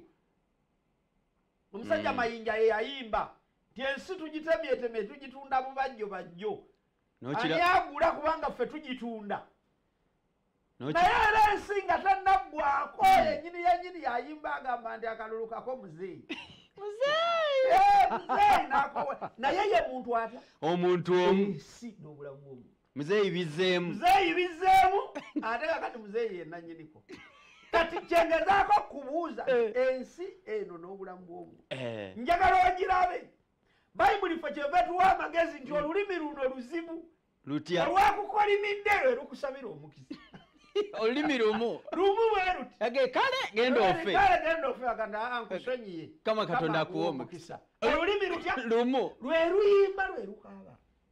omusajja mm. mayinja yeyayimba nti ensi tugitemyetemye tugitunda bubajjo bajjo ani agula kubanga ffe tugitunda naye era ensi nga tanaggwako mm. yenyini yenyini yayimba agamba nti akalulu kako muzeeyi eh, naye ye muntu atya omuntu omu nobulamu bwomuntu muzeeyi bizzeemu muzeeyi bizzeemu ate kakati muzeeyi yenannyiniko kati kyengezaako okubuuza eh. ensi eno n'obulamu bwomu eh. njagala ogirabe bayibuli fe kyeva tuwa amagezi nti olulimi luno luzibu lutya olwakukolimidde lwe lukusabira omukisa olulimi lumu lumu bweruti kale genda ofe kale genda ofe aganda ah, nkusonyiye eh, kama katonda akuwa omukisa olulimi lutya lumu lwe luyimba lwe lukaaba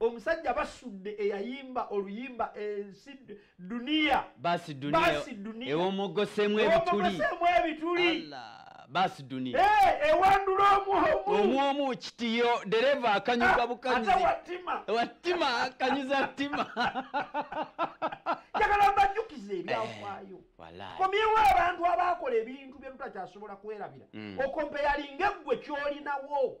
omusajja basudde eyayimba oluyimba ensi duniya basi duniya ewomogosemu ebituli ebituli basi duniya eh, ewandula omuomu kitiyo dereva akanyuga ah, bukanyuzi wattima akanyuza ttima njagala mbajjukiza ebyafaayo eh, komyewo abantu abaakola ebintu byetutakyasubola kwerabira mm. okompeyalinga eggwe kyolinawo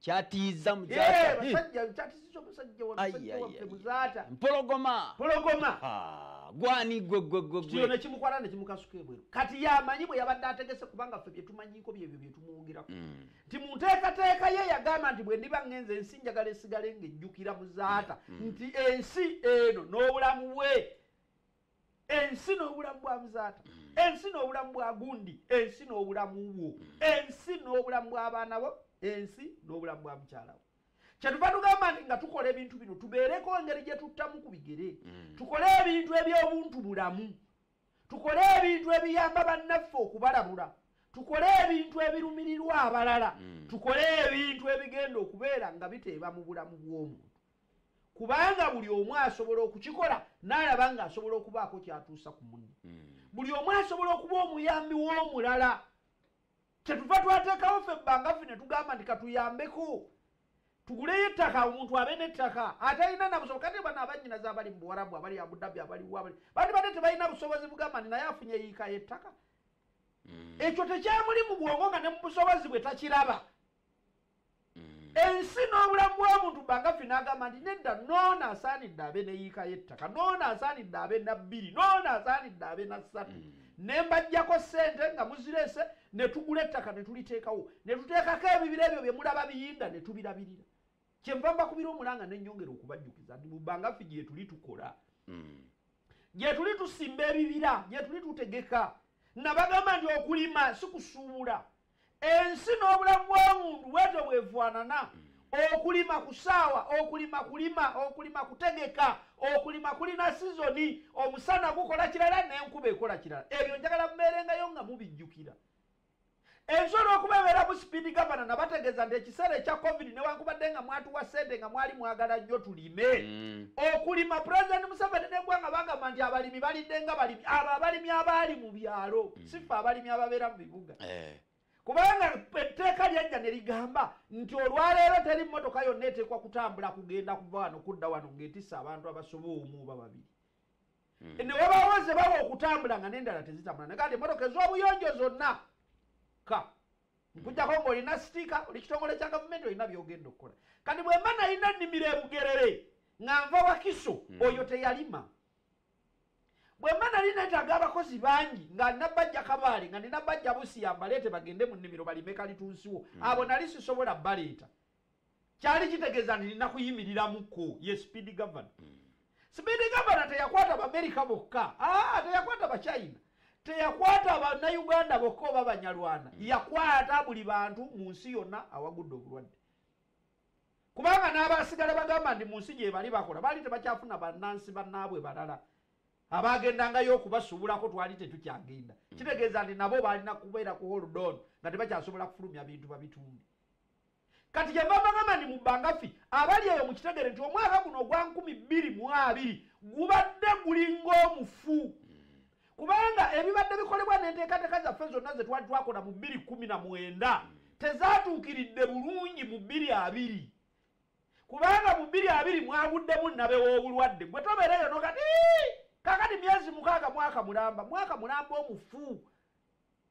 kyatiiza mukyatampologomapologoma gwani gwegwegwegwekimukwata nekimukasuka ebweru kati yamanyi bwe yabadde ategese kubanga ffe byetumanyiko byebyo byetumwogerako mm. nti mu nteekateeka ye yagamba nti bwe ndiba ngenza ensi njagala esigale ngaejjukira muzaata mm. nti ensi eno n'obulamu bwe ensi n'obulamu bwa muzaata mm. ensi n'obulamu bwa gundi ensi n'obulamu bwo mm. ensi n'obulamu bw'abaana bo ensi n'obulamu bwa mukyala wo kyetuva tugamba nti nga tukola ebintu bino tubeereko engeri gye tuttamu ku bigere mm. tukole ebintu eby'obuntu bulamu tukole ebintu ebiyamba bannaffe okubalabula tukole ebintu ebirumirirwa abalala tukole ebintu ebigenda okubeera nga biteeba mu bulamu bw'omuntu kubanga buli omu asobola okukikola n'alaba ng'asobola okubaako kyatuusa ku munne hmm. buli omu asobola okuba omuyambi w'omulala kyetuva twateekawo ffe ebbanga ffe ne tugamba nti katuyambeko tuguleyo ettaka omuntu abe n'ettaka atalina nabusobo kati bano abanyinaza abali mu buwarabu abali abudabi abaliwo abali bandi badde tebalina busobozi bugamba nti naye afunye yiika y'ettaka hmm. ekyo tekyamuli mu bwongo nga ne mu busobozi bwe takiraba mm. ensi n'obulamu bw'omuntu bagafi n'agamba nti nedda noona asaanidde abe neyiika y'ettaka noona asaanidde abe na bbiri noona asaanidde abe na ssatu mm. ne mbajjako ssente nga muzireese ne tugula ettaka ne tuliteekawo ne tuteekako ebibira ebyo bye mulaba biyinda ne tubirabirira kyenva mbakubira omulanga ne nnyongera okubajjukiza nti mu bagafi gyetuli tukola mm. gyetuli tusimba ebibira gyetuli tutegeka nabagamba nti okulima sikusuubula ensi n'obulamu bw'omuntu bwetyo bwefaanana okulima ku saawa okulima kulima okulima kutegeka okulima kulina sizoni omusana gukola kirala n'enkuba ekola kirala ebyo njagala mubeerengayo nga mubijjukira ensi olwokuba ebeera mu sipiidi gavana nabategeeza nti ekiseera ekya covid newankubadde nga mwatuwa sente nga mwali mwagala nnyo tulime mm. okulima pulezidenti museveni negwanga bagamba nti abalimi balidde nga balimi abo abalimi abaali mu byalo sife mm. abalimi ababeera mu bibuga eh. kubanga etteeka lyajja ne ligamba nti olwaleero teri mmotoka yonna eteekwa kutambula kugenda kuva wano kudda wano ng'etisa abantu abasoba omu oba babiri mm. ne wabaawo ze bawa okutambula nga n'endala tezitambula ne kati emmotoka ez'obuyonjo zonna ka nkujjako ngaolina sitiika oli kitongole kya gavumenti olina byogenda okukola kati bwemba nalina ennimiro ebugerere nga nva wakiso hmm. oyo teyalima bwe mba nali neetaaga abakozi bangi nga nabajja kabaale nga ninabajja busiya mbaleete bagende mu nnimiro balime kalitunsiwo hmm. abo nali sisobola baleeta kyali kitegeeza nti nina kuyimiriramukko ye speed governor hmm. speed governor teyakwata baamerika bokka aa ah, teyakwata bachina teyakwata banauganda bokka oba banyalwana hmm. yakwata buli bantu mu nsi yonna awagudde obulwadde kubanga n'abaasigala bagamba nti mu nsi gye bali bakola baali tebakyafuna bannansi bannaabwe balala abaagendangayo okubasuubulako twali tetukyagenda mm. kitegeeza nti nabo baalina kubeera ku holdon nga tebakyasobola kufulumya bintu babitunde kati kyeva bagamba nti mu bangafi abali eyo mu kitegere nti omwaka guno ogwa nkumi bbiri mu abiri gubadde gulinga omufu mm. kubanga ebibadde bikolebwa n'enteekateeka zaffe zonna ze twali twakola mu bbiri kumi na mwenda tezaatuukiridde bulungi mu bbiri abiri kubanga mu bbiri abiri mwaguddemu nnabe w'obulwadde gwe tobeereyo no kati kakati myezi mukaaga mwaka mulamba mwaka mulamba omufu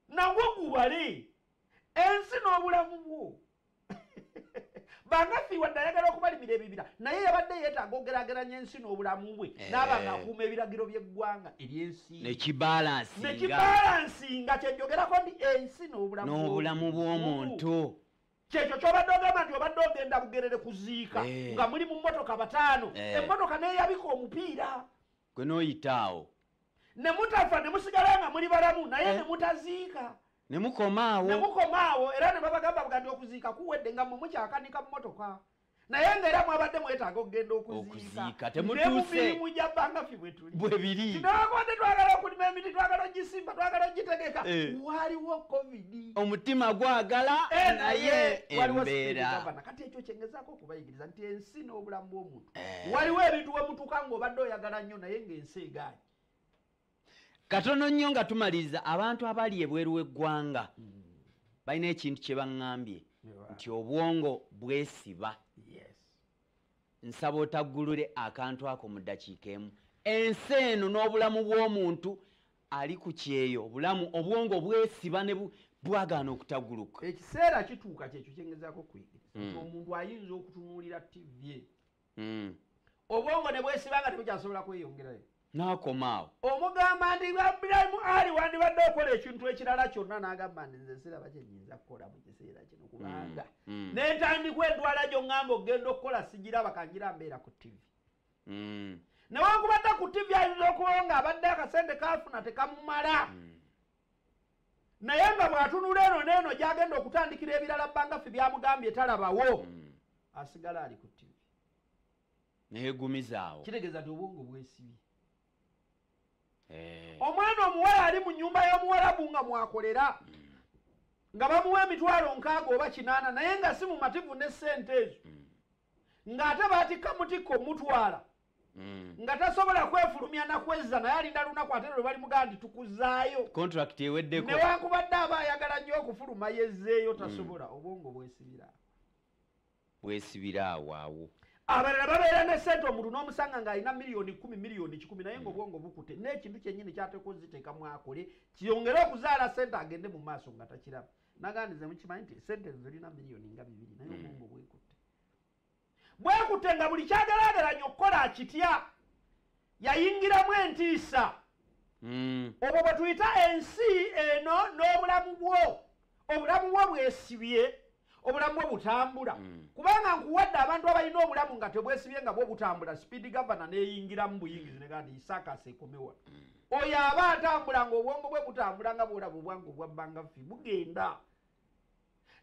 nagwo gubale ensi n'obulamu bwo banafi wadde ayagala okubalimira ebibira naye yabadde yeetaaga ogerageranya ensi n'obulamu bwe eh. naaba nga akuuma ebiragiro by'eggwanga eryensinekibalansinga kyejogerako nti ensi n'obulamu bw'omuntu kyekyo kyobadde ogamba nti obadde ogenda bugerere kuziika eh. nga muli mu mmotoka bataano eh. emmotoka neyabika omupiira gwe noyita awo nemutafa nemusigala nga muli balamu naye eh? nemutaziika nemukomaawo nemukomaawo era nebabagamba bugandi okuziika kuwedde nga mwe mukyakanika mumotoka naye nga era mwabadde mwetaaga okugenda okuziika temutuusemubimu gya bangafi bwetuli bwebiri tinawakubadde twagala okulima emiti twagala ogisimba twagala ogitegeka eh. waliwo covid omutima gwagala eh, naye embeera kati ekyo kyengezaako okubayigiriza nti ensi n'obulamu bw'omuntu eh. waliwo ebintu wemutuuka ngaobadde oyagala nnyo naye ngaensi egaanyi katono nnyo nga tumaliriza abantu abali ebweru w'eggwanga hmm. balina ekintu kye baŋŋambye nti obwongo bwesiba nsaba otaggulule akantu ako mu ddakiika emu ensi eno n'obulamu bw'omuntu ali ku kyeyo obulamu obwongo bwesiba ne bwagaana okutaguluka ekiseera kituuka kyekyo kyengezako okuyigiriza mm. omuntu ayinza okutunuulira tv mm. obwongo ne bwesiba nga tebukyasobola kweyongerayo nakomaawo omugamba nti abulamu ali wandibadde okola ekintu ekirala kyonna nagamba nti nze siraba kyenyinza kukola mu kiseera kino kubanga mm, mm. nentandikwa endwala gyo ŋamba okugenda okukola sigiraba kangira mbeera ku tivi mm. newankubadde ku tivi ayinza okubawo nga abadde akasente kafuna tekamumala mm. naye nga bwatunula eno neeno gyagenda okutandikira ebirala bangafe byamugambye talabawo mm. asigala ali ku tivi neyegumizaawo kitegeeza ti obwongo bwesibye eh. omwana omuwala ali mu nyumba y'omuwalabu nga mwakolera mm. nga bamuwa emitwalo nkaaga oba kinaana naye nga si mumativu ne sente ezo mm. ng'ate baatikka mutikka omutwala mm. nga tasobola kwefulumya nakwezza naye alinda lunaku ate lwe bali mugandi tukuzaayo contract eweddeko newankubadde aba ayagala nnyo okufuluma yezzeeyo mm. tasobola obwongo bwesibira bwesibira awaawo abalala babeera ne sente omuntu n'omusanga ng'alina miliyoni kumi miliyoni kikumi naye nga mm. obwongo bukute n'ekintu kyennyini kyateeka oziteekamu akole kiyongere okuzaala sente agende mu maaso nga takiraba nagandi ze mukimanyi nti sente zirina miliyoni nga bibiri naye hmm. obwongo bwekutte bwekutte nga buli kyagalagalanya okukola kitya yayingiramu entiisa hmm. obwo bwe tuyita ensi eno n'obulamu bwo obulamu bwo bwesibye obulamu bwo butambula hmm. kubanga nkuwadde abantu abalina obulamu nga tebwesibye nga bwo butambula sipiidi gavana neyingiramu buyingizi negandi isakasa ekomewa oyo aba atambula nga obwongo bwe butambula nga bwolaba obwange obwabbanga ffi bugenda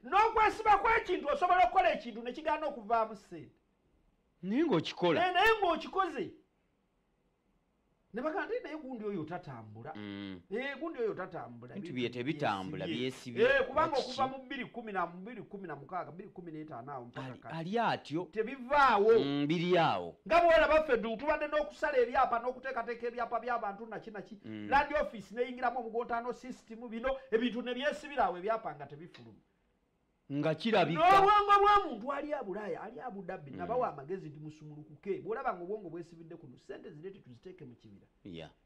n'okwesiba kw'ekintu osobola okukola ekintu ne kigaana okuvaamu ssente naye ngaokikola eh, naye ngaokikoze ne bagamba naye gundi oyo tatambula mm. eh, gundi oyo tatambula bintu bye tebitambula byesibye eh, kubanga okuva mu bbiri kumi na bbiri kumi na mukaaga bbiri kumi n'etaano awo mpaka ali atyo tebivaawo mm, biri awo nga bwera baffe du tubadde n'okusala ebyapa n'okuteekateeka ebyapa by'abantu naki naki mm. landi ofiisi neyingiramu omugontaano sisitimu bino ebintu ne byesibira awo ebyapa nga tebifuluma nga kirabika n'obwongo bw'omuntu ali abulaaya ali abudabbi nabawa mm. amagezi nti musumulukuke bw'olaba nga obwongo bwesibidde kuno sente zireete tuziteeke mu kibira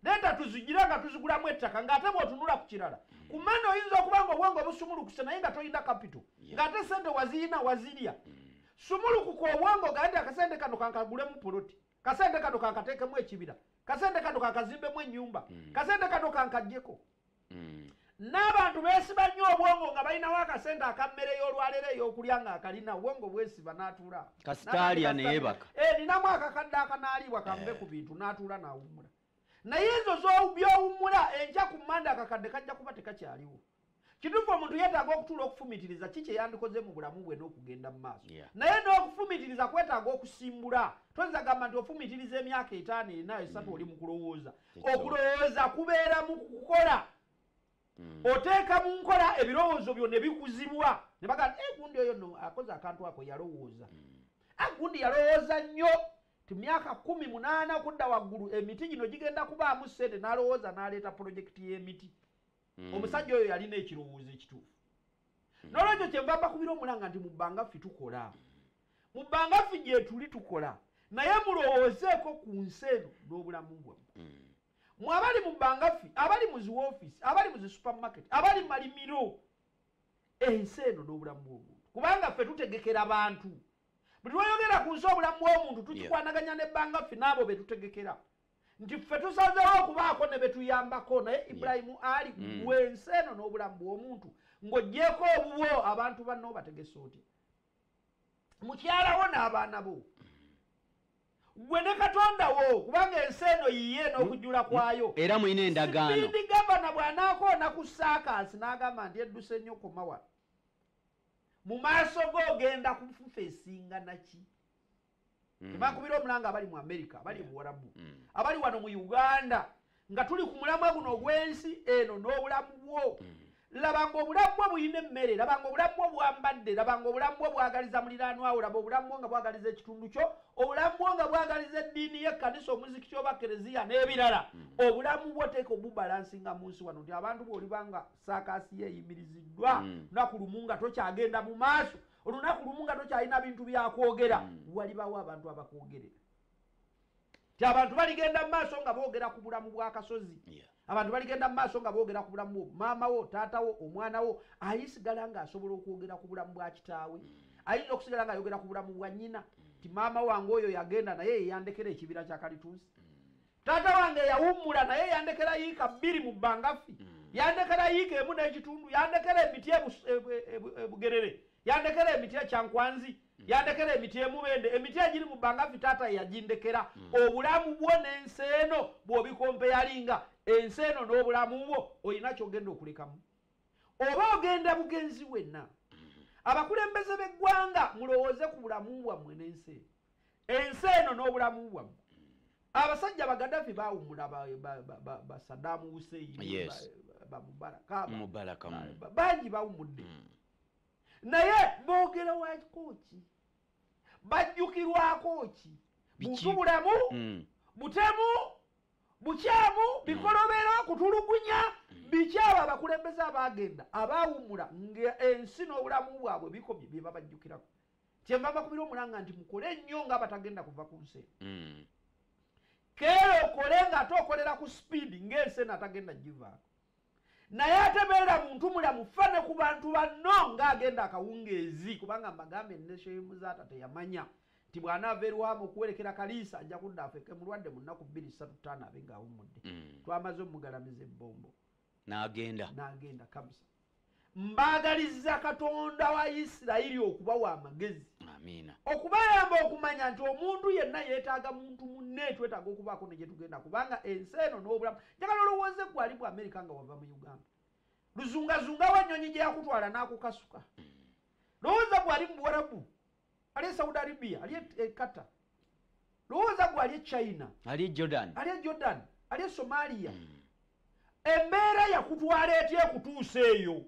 leeta tuzigira nga tuzigulamu ettaka ng'ate bw'otunula ku kirala mm. ku mani oyinza okuba nga obwongo busumulukuse naye nga tolina kapito ng'ate sente waziyina wazirya mm. sumulukuka obwongo gaa nti akasente kano kankagulemu poloti kasente kano kankateekemu ekibira kasente kano kankazimbemu ennyumba kasente kano kankajjeko mm. n'abantu beesiba nnyo obwongo nga balinawo akasente akammere y'olwaleero ey'okulya ng'akalina obwongo bwesiba n'atuula kasitaalya neyebaka eh, ninamu akakadde akanaaliibwa kanve ku bintu n'atuula n'awummula naye ezo byowummula enkya ku mande akakadde kajja kuba tekakyaliwo kituufu omuntu yeetaaga okutuula okufumitiriza ki kye yandikoze mu bulamu bwe n'okugenda mu maaso naye n'okufumitiriza kwetaaga okusimbula toyinza gamba nti ofumitiriza emyaka etaano ena esatu oli mu kulowooza okulowooza kubeera mu kukola hmm. oteeka mu nkola ebirowoozo byo ne bikuzibwa ne bagaa e eh, gundi oyo no akoze akantu ako yalowooza hmm. a ah, gundi yalowooza nnyo ti myaka kumi munaana kudda waggulu emiti gino gigenda kubaamu ssente n'alowooza n'aleeta pulojekiti y'emiti mm. omusajja oyo yalina ekirowoozo ekituufu mm. nolwekyo kyenva mbakubira omulanga nti mu bbanga ffe tukola mu bbanga ffe gyetuli tukola naye mulowoozeeko ku nsi eno n'obulamu bwamu mm. mwe abali mu bbanga ffe abali mu zi woofisi abali mu zi supermarket abali mu malimiro ensi eno n'obulamu bw'omuntu kubanga ffe tutegekera bantu buli lwoyogera ku nsi obulamu bw'omuntu tukikwanaganya ne bbanga ffe n'abo be tutegekera nti ffe tusazewo okubaako ne betuyambako naye ibulayimu ali mm. gwe ensi eno n'obulamu bw'omuntu ng'ogyeko obubwo abantu banna obategese otya mukyalawo n'abaana bo gwe ne katonda wo kubanga ensi eno yiye n'okujula mm. kwayo mm. era mulina endagaanoidi gavana bw'anaako onaku saakaasi n'agamba nti edduse nnyo komawa mu maaso go ogenda kufufa esinga naki mm. tebakubira omulanga abali mu amerika abali yeah. muwarabu mm. abali wano mu uganda nga tuli ku mulamwa guno ogw'ensi eno n'obulamu bwo mm. labanga obulamu bwo bulina emmere labanga obulamu bwo bwambadde labanga obulamu bwo bwagaliza muliraanwawo laba obulamu bwo nga bwagaliza ekitundu kyo obulamu bwo nga bwagaliza eddiini y'ekkanisa omuzikiti oba kereziya n'ebirala mm. obulamu bwo teeka obubalansinga mu nsi wano nti abantu boolibanga saakaasi yeeyimiriziddwa mm. naku lumu nga tokyagenda mu maaso olunaku lumu nga tokyalina bintu byakwogera mm. walibawo abantu abakwogerera ti abantu baligenda mu maaso nga boogera ku bulamu bwakasozi abantu baligenda mu maaso nga boogera ku bulamu bwo maama wo taata wo omwana wo ayisigala nga asobola okwogera ku bulamu bwa kitaawe mm. ayinza okusigala nga ayogera ku bulamu bwa nyina mm. ti maama wange oyo yagenda naye yeyandekera ekibira kyakalitunsi taata wange eyawummula naye yandekera yiika bbiri mu bbangafi hmm. yandekera yiika emu n'ekitundu yandekera emiti e, e, e, bugerere yandekera emiti ekyankwanzi hmm. yandekera emiti emubende emiti egiri mu bbangafi taata yagindekera hmm. obulamu bwo n'ensi eno bwobikompe yalinga ensi eno n'obulamu bwo olina kyogenda okulekamu oba ogenda bugenzi wenna abakulembeze b'eggwanga mulowooze ku bulamu bwammwe n'ensi eno ensi eno n'obulamu bwammwe abasajja bagadafi bawumula basadamu huseini bamubarakabangi mm. bawumudde mm. naye bogera wakikoki bajjukirwako ki buntu bulamu mm. butemu bukyamu bikolobero kutulugunya bikyabo abakulembeze abagenda abawumula nga ensi n'obulamu bwabwe bikomye byebabajjukirako kyenva mbakubira omulanga nti mukole nnyo nga abatagenda kuva ku nsi mm. keera okole nga ate okolera ku sipiidi ng'ensi eno atagenda givaako naye ate beera muntu mulamu fa ne ku bantu banno ng'agenda akawungeezi kubanga mbagambe eneshemuzaata teyamanya nti bw'anaava erwamu okuwerekera kaliisa ajja kudda afeke mulwadde mu nnaku bbiri ssatu ttaano abe ng'awummudde mm. twamaze omugalamiza ebbombo n'agenda n'agenda kabisa mbaagalizza katonda wa isirayiri okubawa amagezi okubayamba okumanya nti omuntu yenna yeetaaga muntu munne twetaaga okubaako ne gyetugenda kubanga ensi eno n'obulamu njagala olowooze gwali bwa amerika nga wava mu uganda luzungazungawo ennyonyi gye yakutwala n'akukasuka hmm. lowooza gwali mu buwarabu ali e saudi arabia ali e qatar lowooza gwe ali e china ali e jordan ali e jordan ali e somalia hmm. embeera yakutwala etya ekutuusa eyo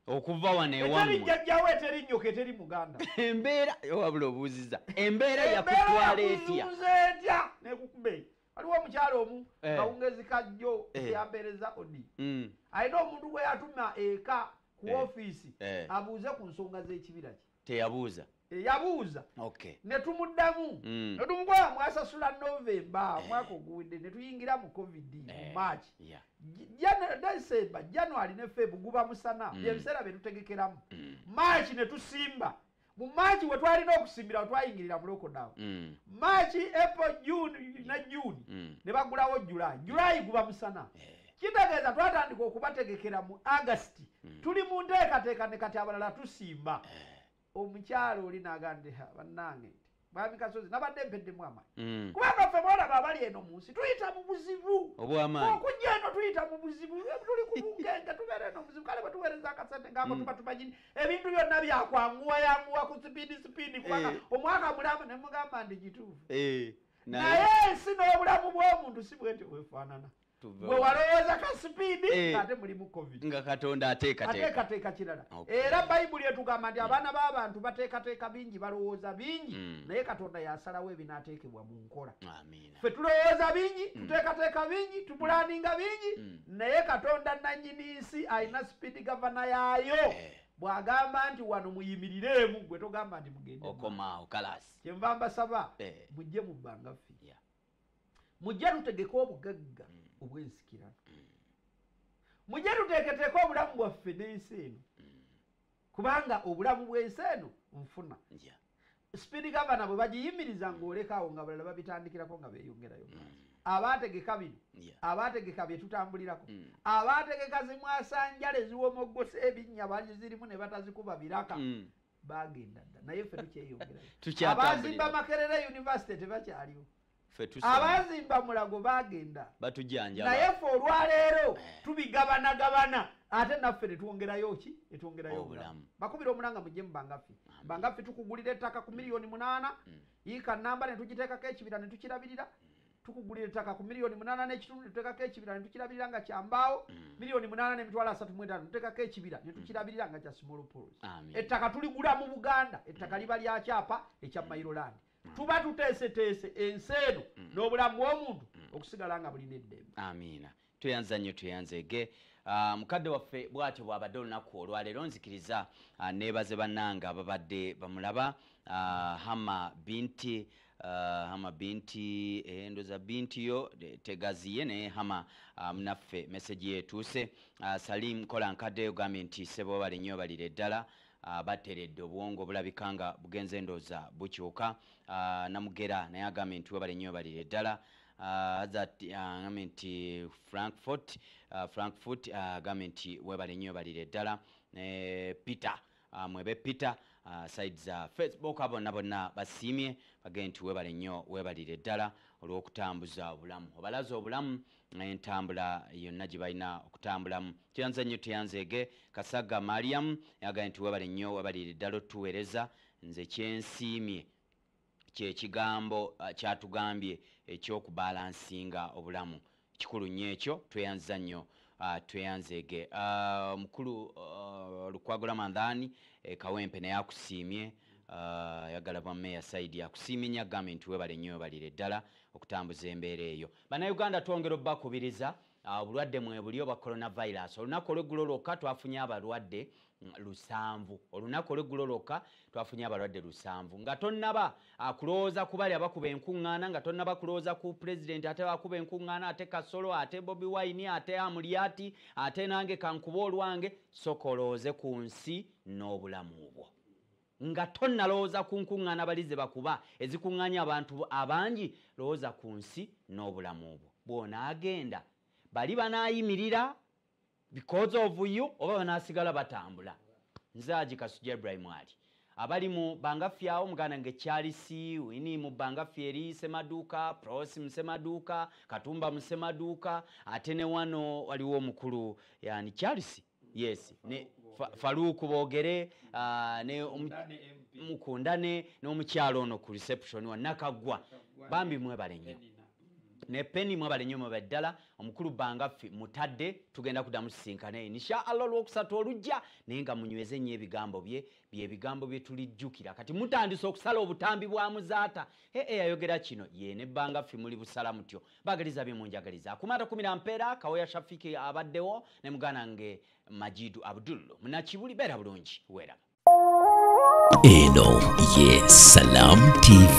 okuva wano ewaeteri jjajjawo eteri nnyoka eteri muganda embeera wabula obuuziza embeera yakutwala etya etya nekukuba eyo waliwo omukyalo omu eh. kawungezi kajjo eh. yampeereza odi hmm. alina omuntu gwe yatuma eka ku eh. ofiisi abuuze ku nsonga z'ekibira kye teyabuuza eyabuuza netumuddamu mm. netumukola mwasasula novemba eh. mwaka oguwedde netuyingira mu covid mu eh. march december january ne feb guba musana mm. byebiseera byetutegekeramu mm. march netusimba mu march wetwalina okusimbira wetwayingirira mu lockdown march april june ne june nebagulawo july july guba musana eh. kitegeeza twatandika okubategekera mu august hmm. tuli mu nteekateeka ne kati abalala tusimba eh. omukyalo oli nagandiha bannange nti mwami kasozi nabadde mpeddemu amayi hmm. kubanga ffe mwalaba abali eno mu nsi tuyita mu buzibu okujja eno tuyita mu buzibu tuli ku bugenge tubeera eno muzibu kale bwetuweereza akasente ngaako hmm. tuba tumanyini ebintu byonna byakwanguwa yanguwa ku sipiidi sipiidi kubanga eh. omwaka mulamba nemugamba ndi gituufu eh. naye ensi n'obulamu bw'omuntu si bwenti bwefaanana gwe walowooza ka sipiidi eh. ngaate mulimu covid nga katonda ateekateeka kirala era bayibuli etugamba nti abaana b'abantu bateekateeka bingi balowooza bingi mm. naye katonda yasalawo ebinaateekebwa mu nkola ffe tulowooza bingi mm. tuteekateeka bingi mm. tupulaninga bingi naye katonda nannyini nsi alina sipiidi gavana yaayo eh. bwagamba nti wano muyimirireemu gwe togamba nti mugendeokomaawo kalasi kyenva mbasaba eh. mujje mu bbanga ffe mujja tutegeka obugagga mm. obwensikirano mm. mujja tuteeketeeka obulamu bwaffe n'ensi eno mm. kubanga obulamu bw'ensi eno nfuna sipiidi gavana bwe bagiyimiriza ng'olekaawo nga balala babitandikirako nga beeyongerayo abaategeka bino abaategeka bye tutambulirako abaategeka zimwasanjala eziwomoggose ebinnya bazirimu ne batazikuba biraka bagenda dda naye ffe tukyeyongerayo abazimba makerere university tebakyaliwo abazimba mulago bagenda naye ffe olwaleero eh. tubigabanagabana ate naffe netwongerayo ki netwongerayo obulamu bakubira omulanga mujje mubangaffi bangaffi tukugulira ettaka ku miliyoni munaana mm. yiika namba netugiteekako ekibira netukirabirira mm. tukugulira ettaka ku miliyoni munaana n'ekitundu ne tuteekako ekibira ne tukirabirira nga kya mbaawo mm. miliyoni munaana n'emitwalo asatu mu etaano ne tuteekako ekibira ne mm. tukirabirira nga kya small pols ettaka tuligula mu buganda ettaka mm. liba lya kyapa ekya mairolandi tuba tuteeseteese ensi eno n'obulamu bw'omuntu okusigala nga bulina eddembe amiina tweyanza nnyo tweyanza ege ah, mukadde waffe bwatyo bwabadde olunaku olwaleero nzikiriza ah, nebaze bannanga ababadde bamulaba ah, hama binti hama binti eh, ndoza binti yo tegaziye naye hama munaffe meseji yetuuse salim kola nkadde ogambye nti sebo bali nnyo balire ddala bateredde obwongo bulabika nga bugenze ndoza bukyuka namugera naye agambye nti webali nnyo balire ddala aza uh, agambye uh, nti frankfort uh, frankfort agambye uh, nti webale nnyo webalire ddala ne peter uh, mwebe peter uh, side za facebook abonna bonna basiimye bagee nti webale nnyo webalire ddala olw'okutambuza obulamu obalaza obulamu entambula yonna gye balina okutambulamu kyanze nnyo teyanzeege kasaga mariam yagambye nti webale nnyo webalire ddala otuweereza nze kyensiimye Kye kigambo kyatugambye eky'okubalansinga obulamu. Kikulu nnyo ekyo. Tweyanziza nnyo. Tweyanzeege. Mukulu Lukwago Ramadhan e Kawempe naye akusiimye. Ayagala bwa Mayor Saidi akusiimye nnyo akugambye nti weebale nnyo weebalire ddala okutambuza embeera eyo. Bannayuganda twongera obubakubiriza Obulwadde mwebuli obwa coronavirus. Olunaku olweggulo lwokka twafunye abalwadde mm, lusanvu. Olunaku olweggulo lwokka twafunye abalwadde lusanvu. Nga tonnaba ah, kulowooza ku bali abakuba enkuŋŋaana, nga tonnaba kulowooza ku pulezidenti ate akuba enkuŋŋaana, ate Kasolo, ate Bobi Wine, ate Amulyati, ate nange kankube olwange, sooka olowooze ku nsi n'obulamu bwo. Nga tonnalowooza ku nkuŋŋaana bali ze bakuba ezikuŋŋaanya abantu abangi, lowooza ku nsi n'obulamu bwo. Bw'onaagenda, bali banaayimirira because of you oba banaasigala batambula? Nze Haji Kasujja Ibrahim Ali. Abali mu Bangaffe awo, muganda nge Charles Winnie mu Bangaffe eri Semaduuka, Prossy mu Semaduuka, Katumba mu Semaduuka, ate ne wano waliwo omukulu yani Charles yes ne faluuku boogere ah, ne mukundane n'omukyalo ono ku reception wa nakaggwa bambi mwebale nnyo ne peni mwebale nnyo mwebale ddala omukulu bangaffe mutadde tugenda kuddamu sisinkane insha allah olwokusatu olujja naye nga munyweze nnyo ebigambo bye byebigambo bye tulijjukira kati mutandise okusala obutambi bwa muzaata ee yayogera kino ye ne bangaffe muli busala mutyo Bagaliza bye munjagaliza akuma takumira mpeera kawoya shafiki abaddewo ne muganda nge majidu abdul munakibuli beera bulungi weeraba eno ye salam tv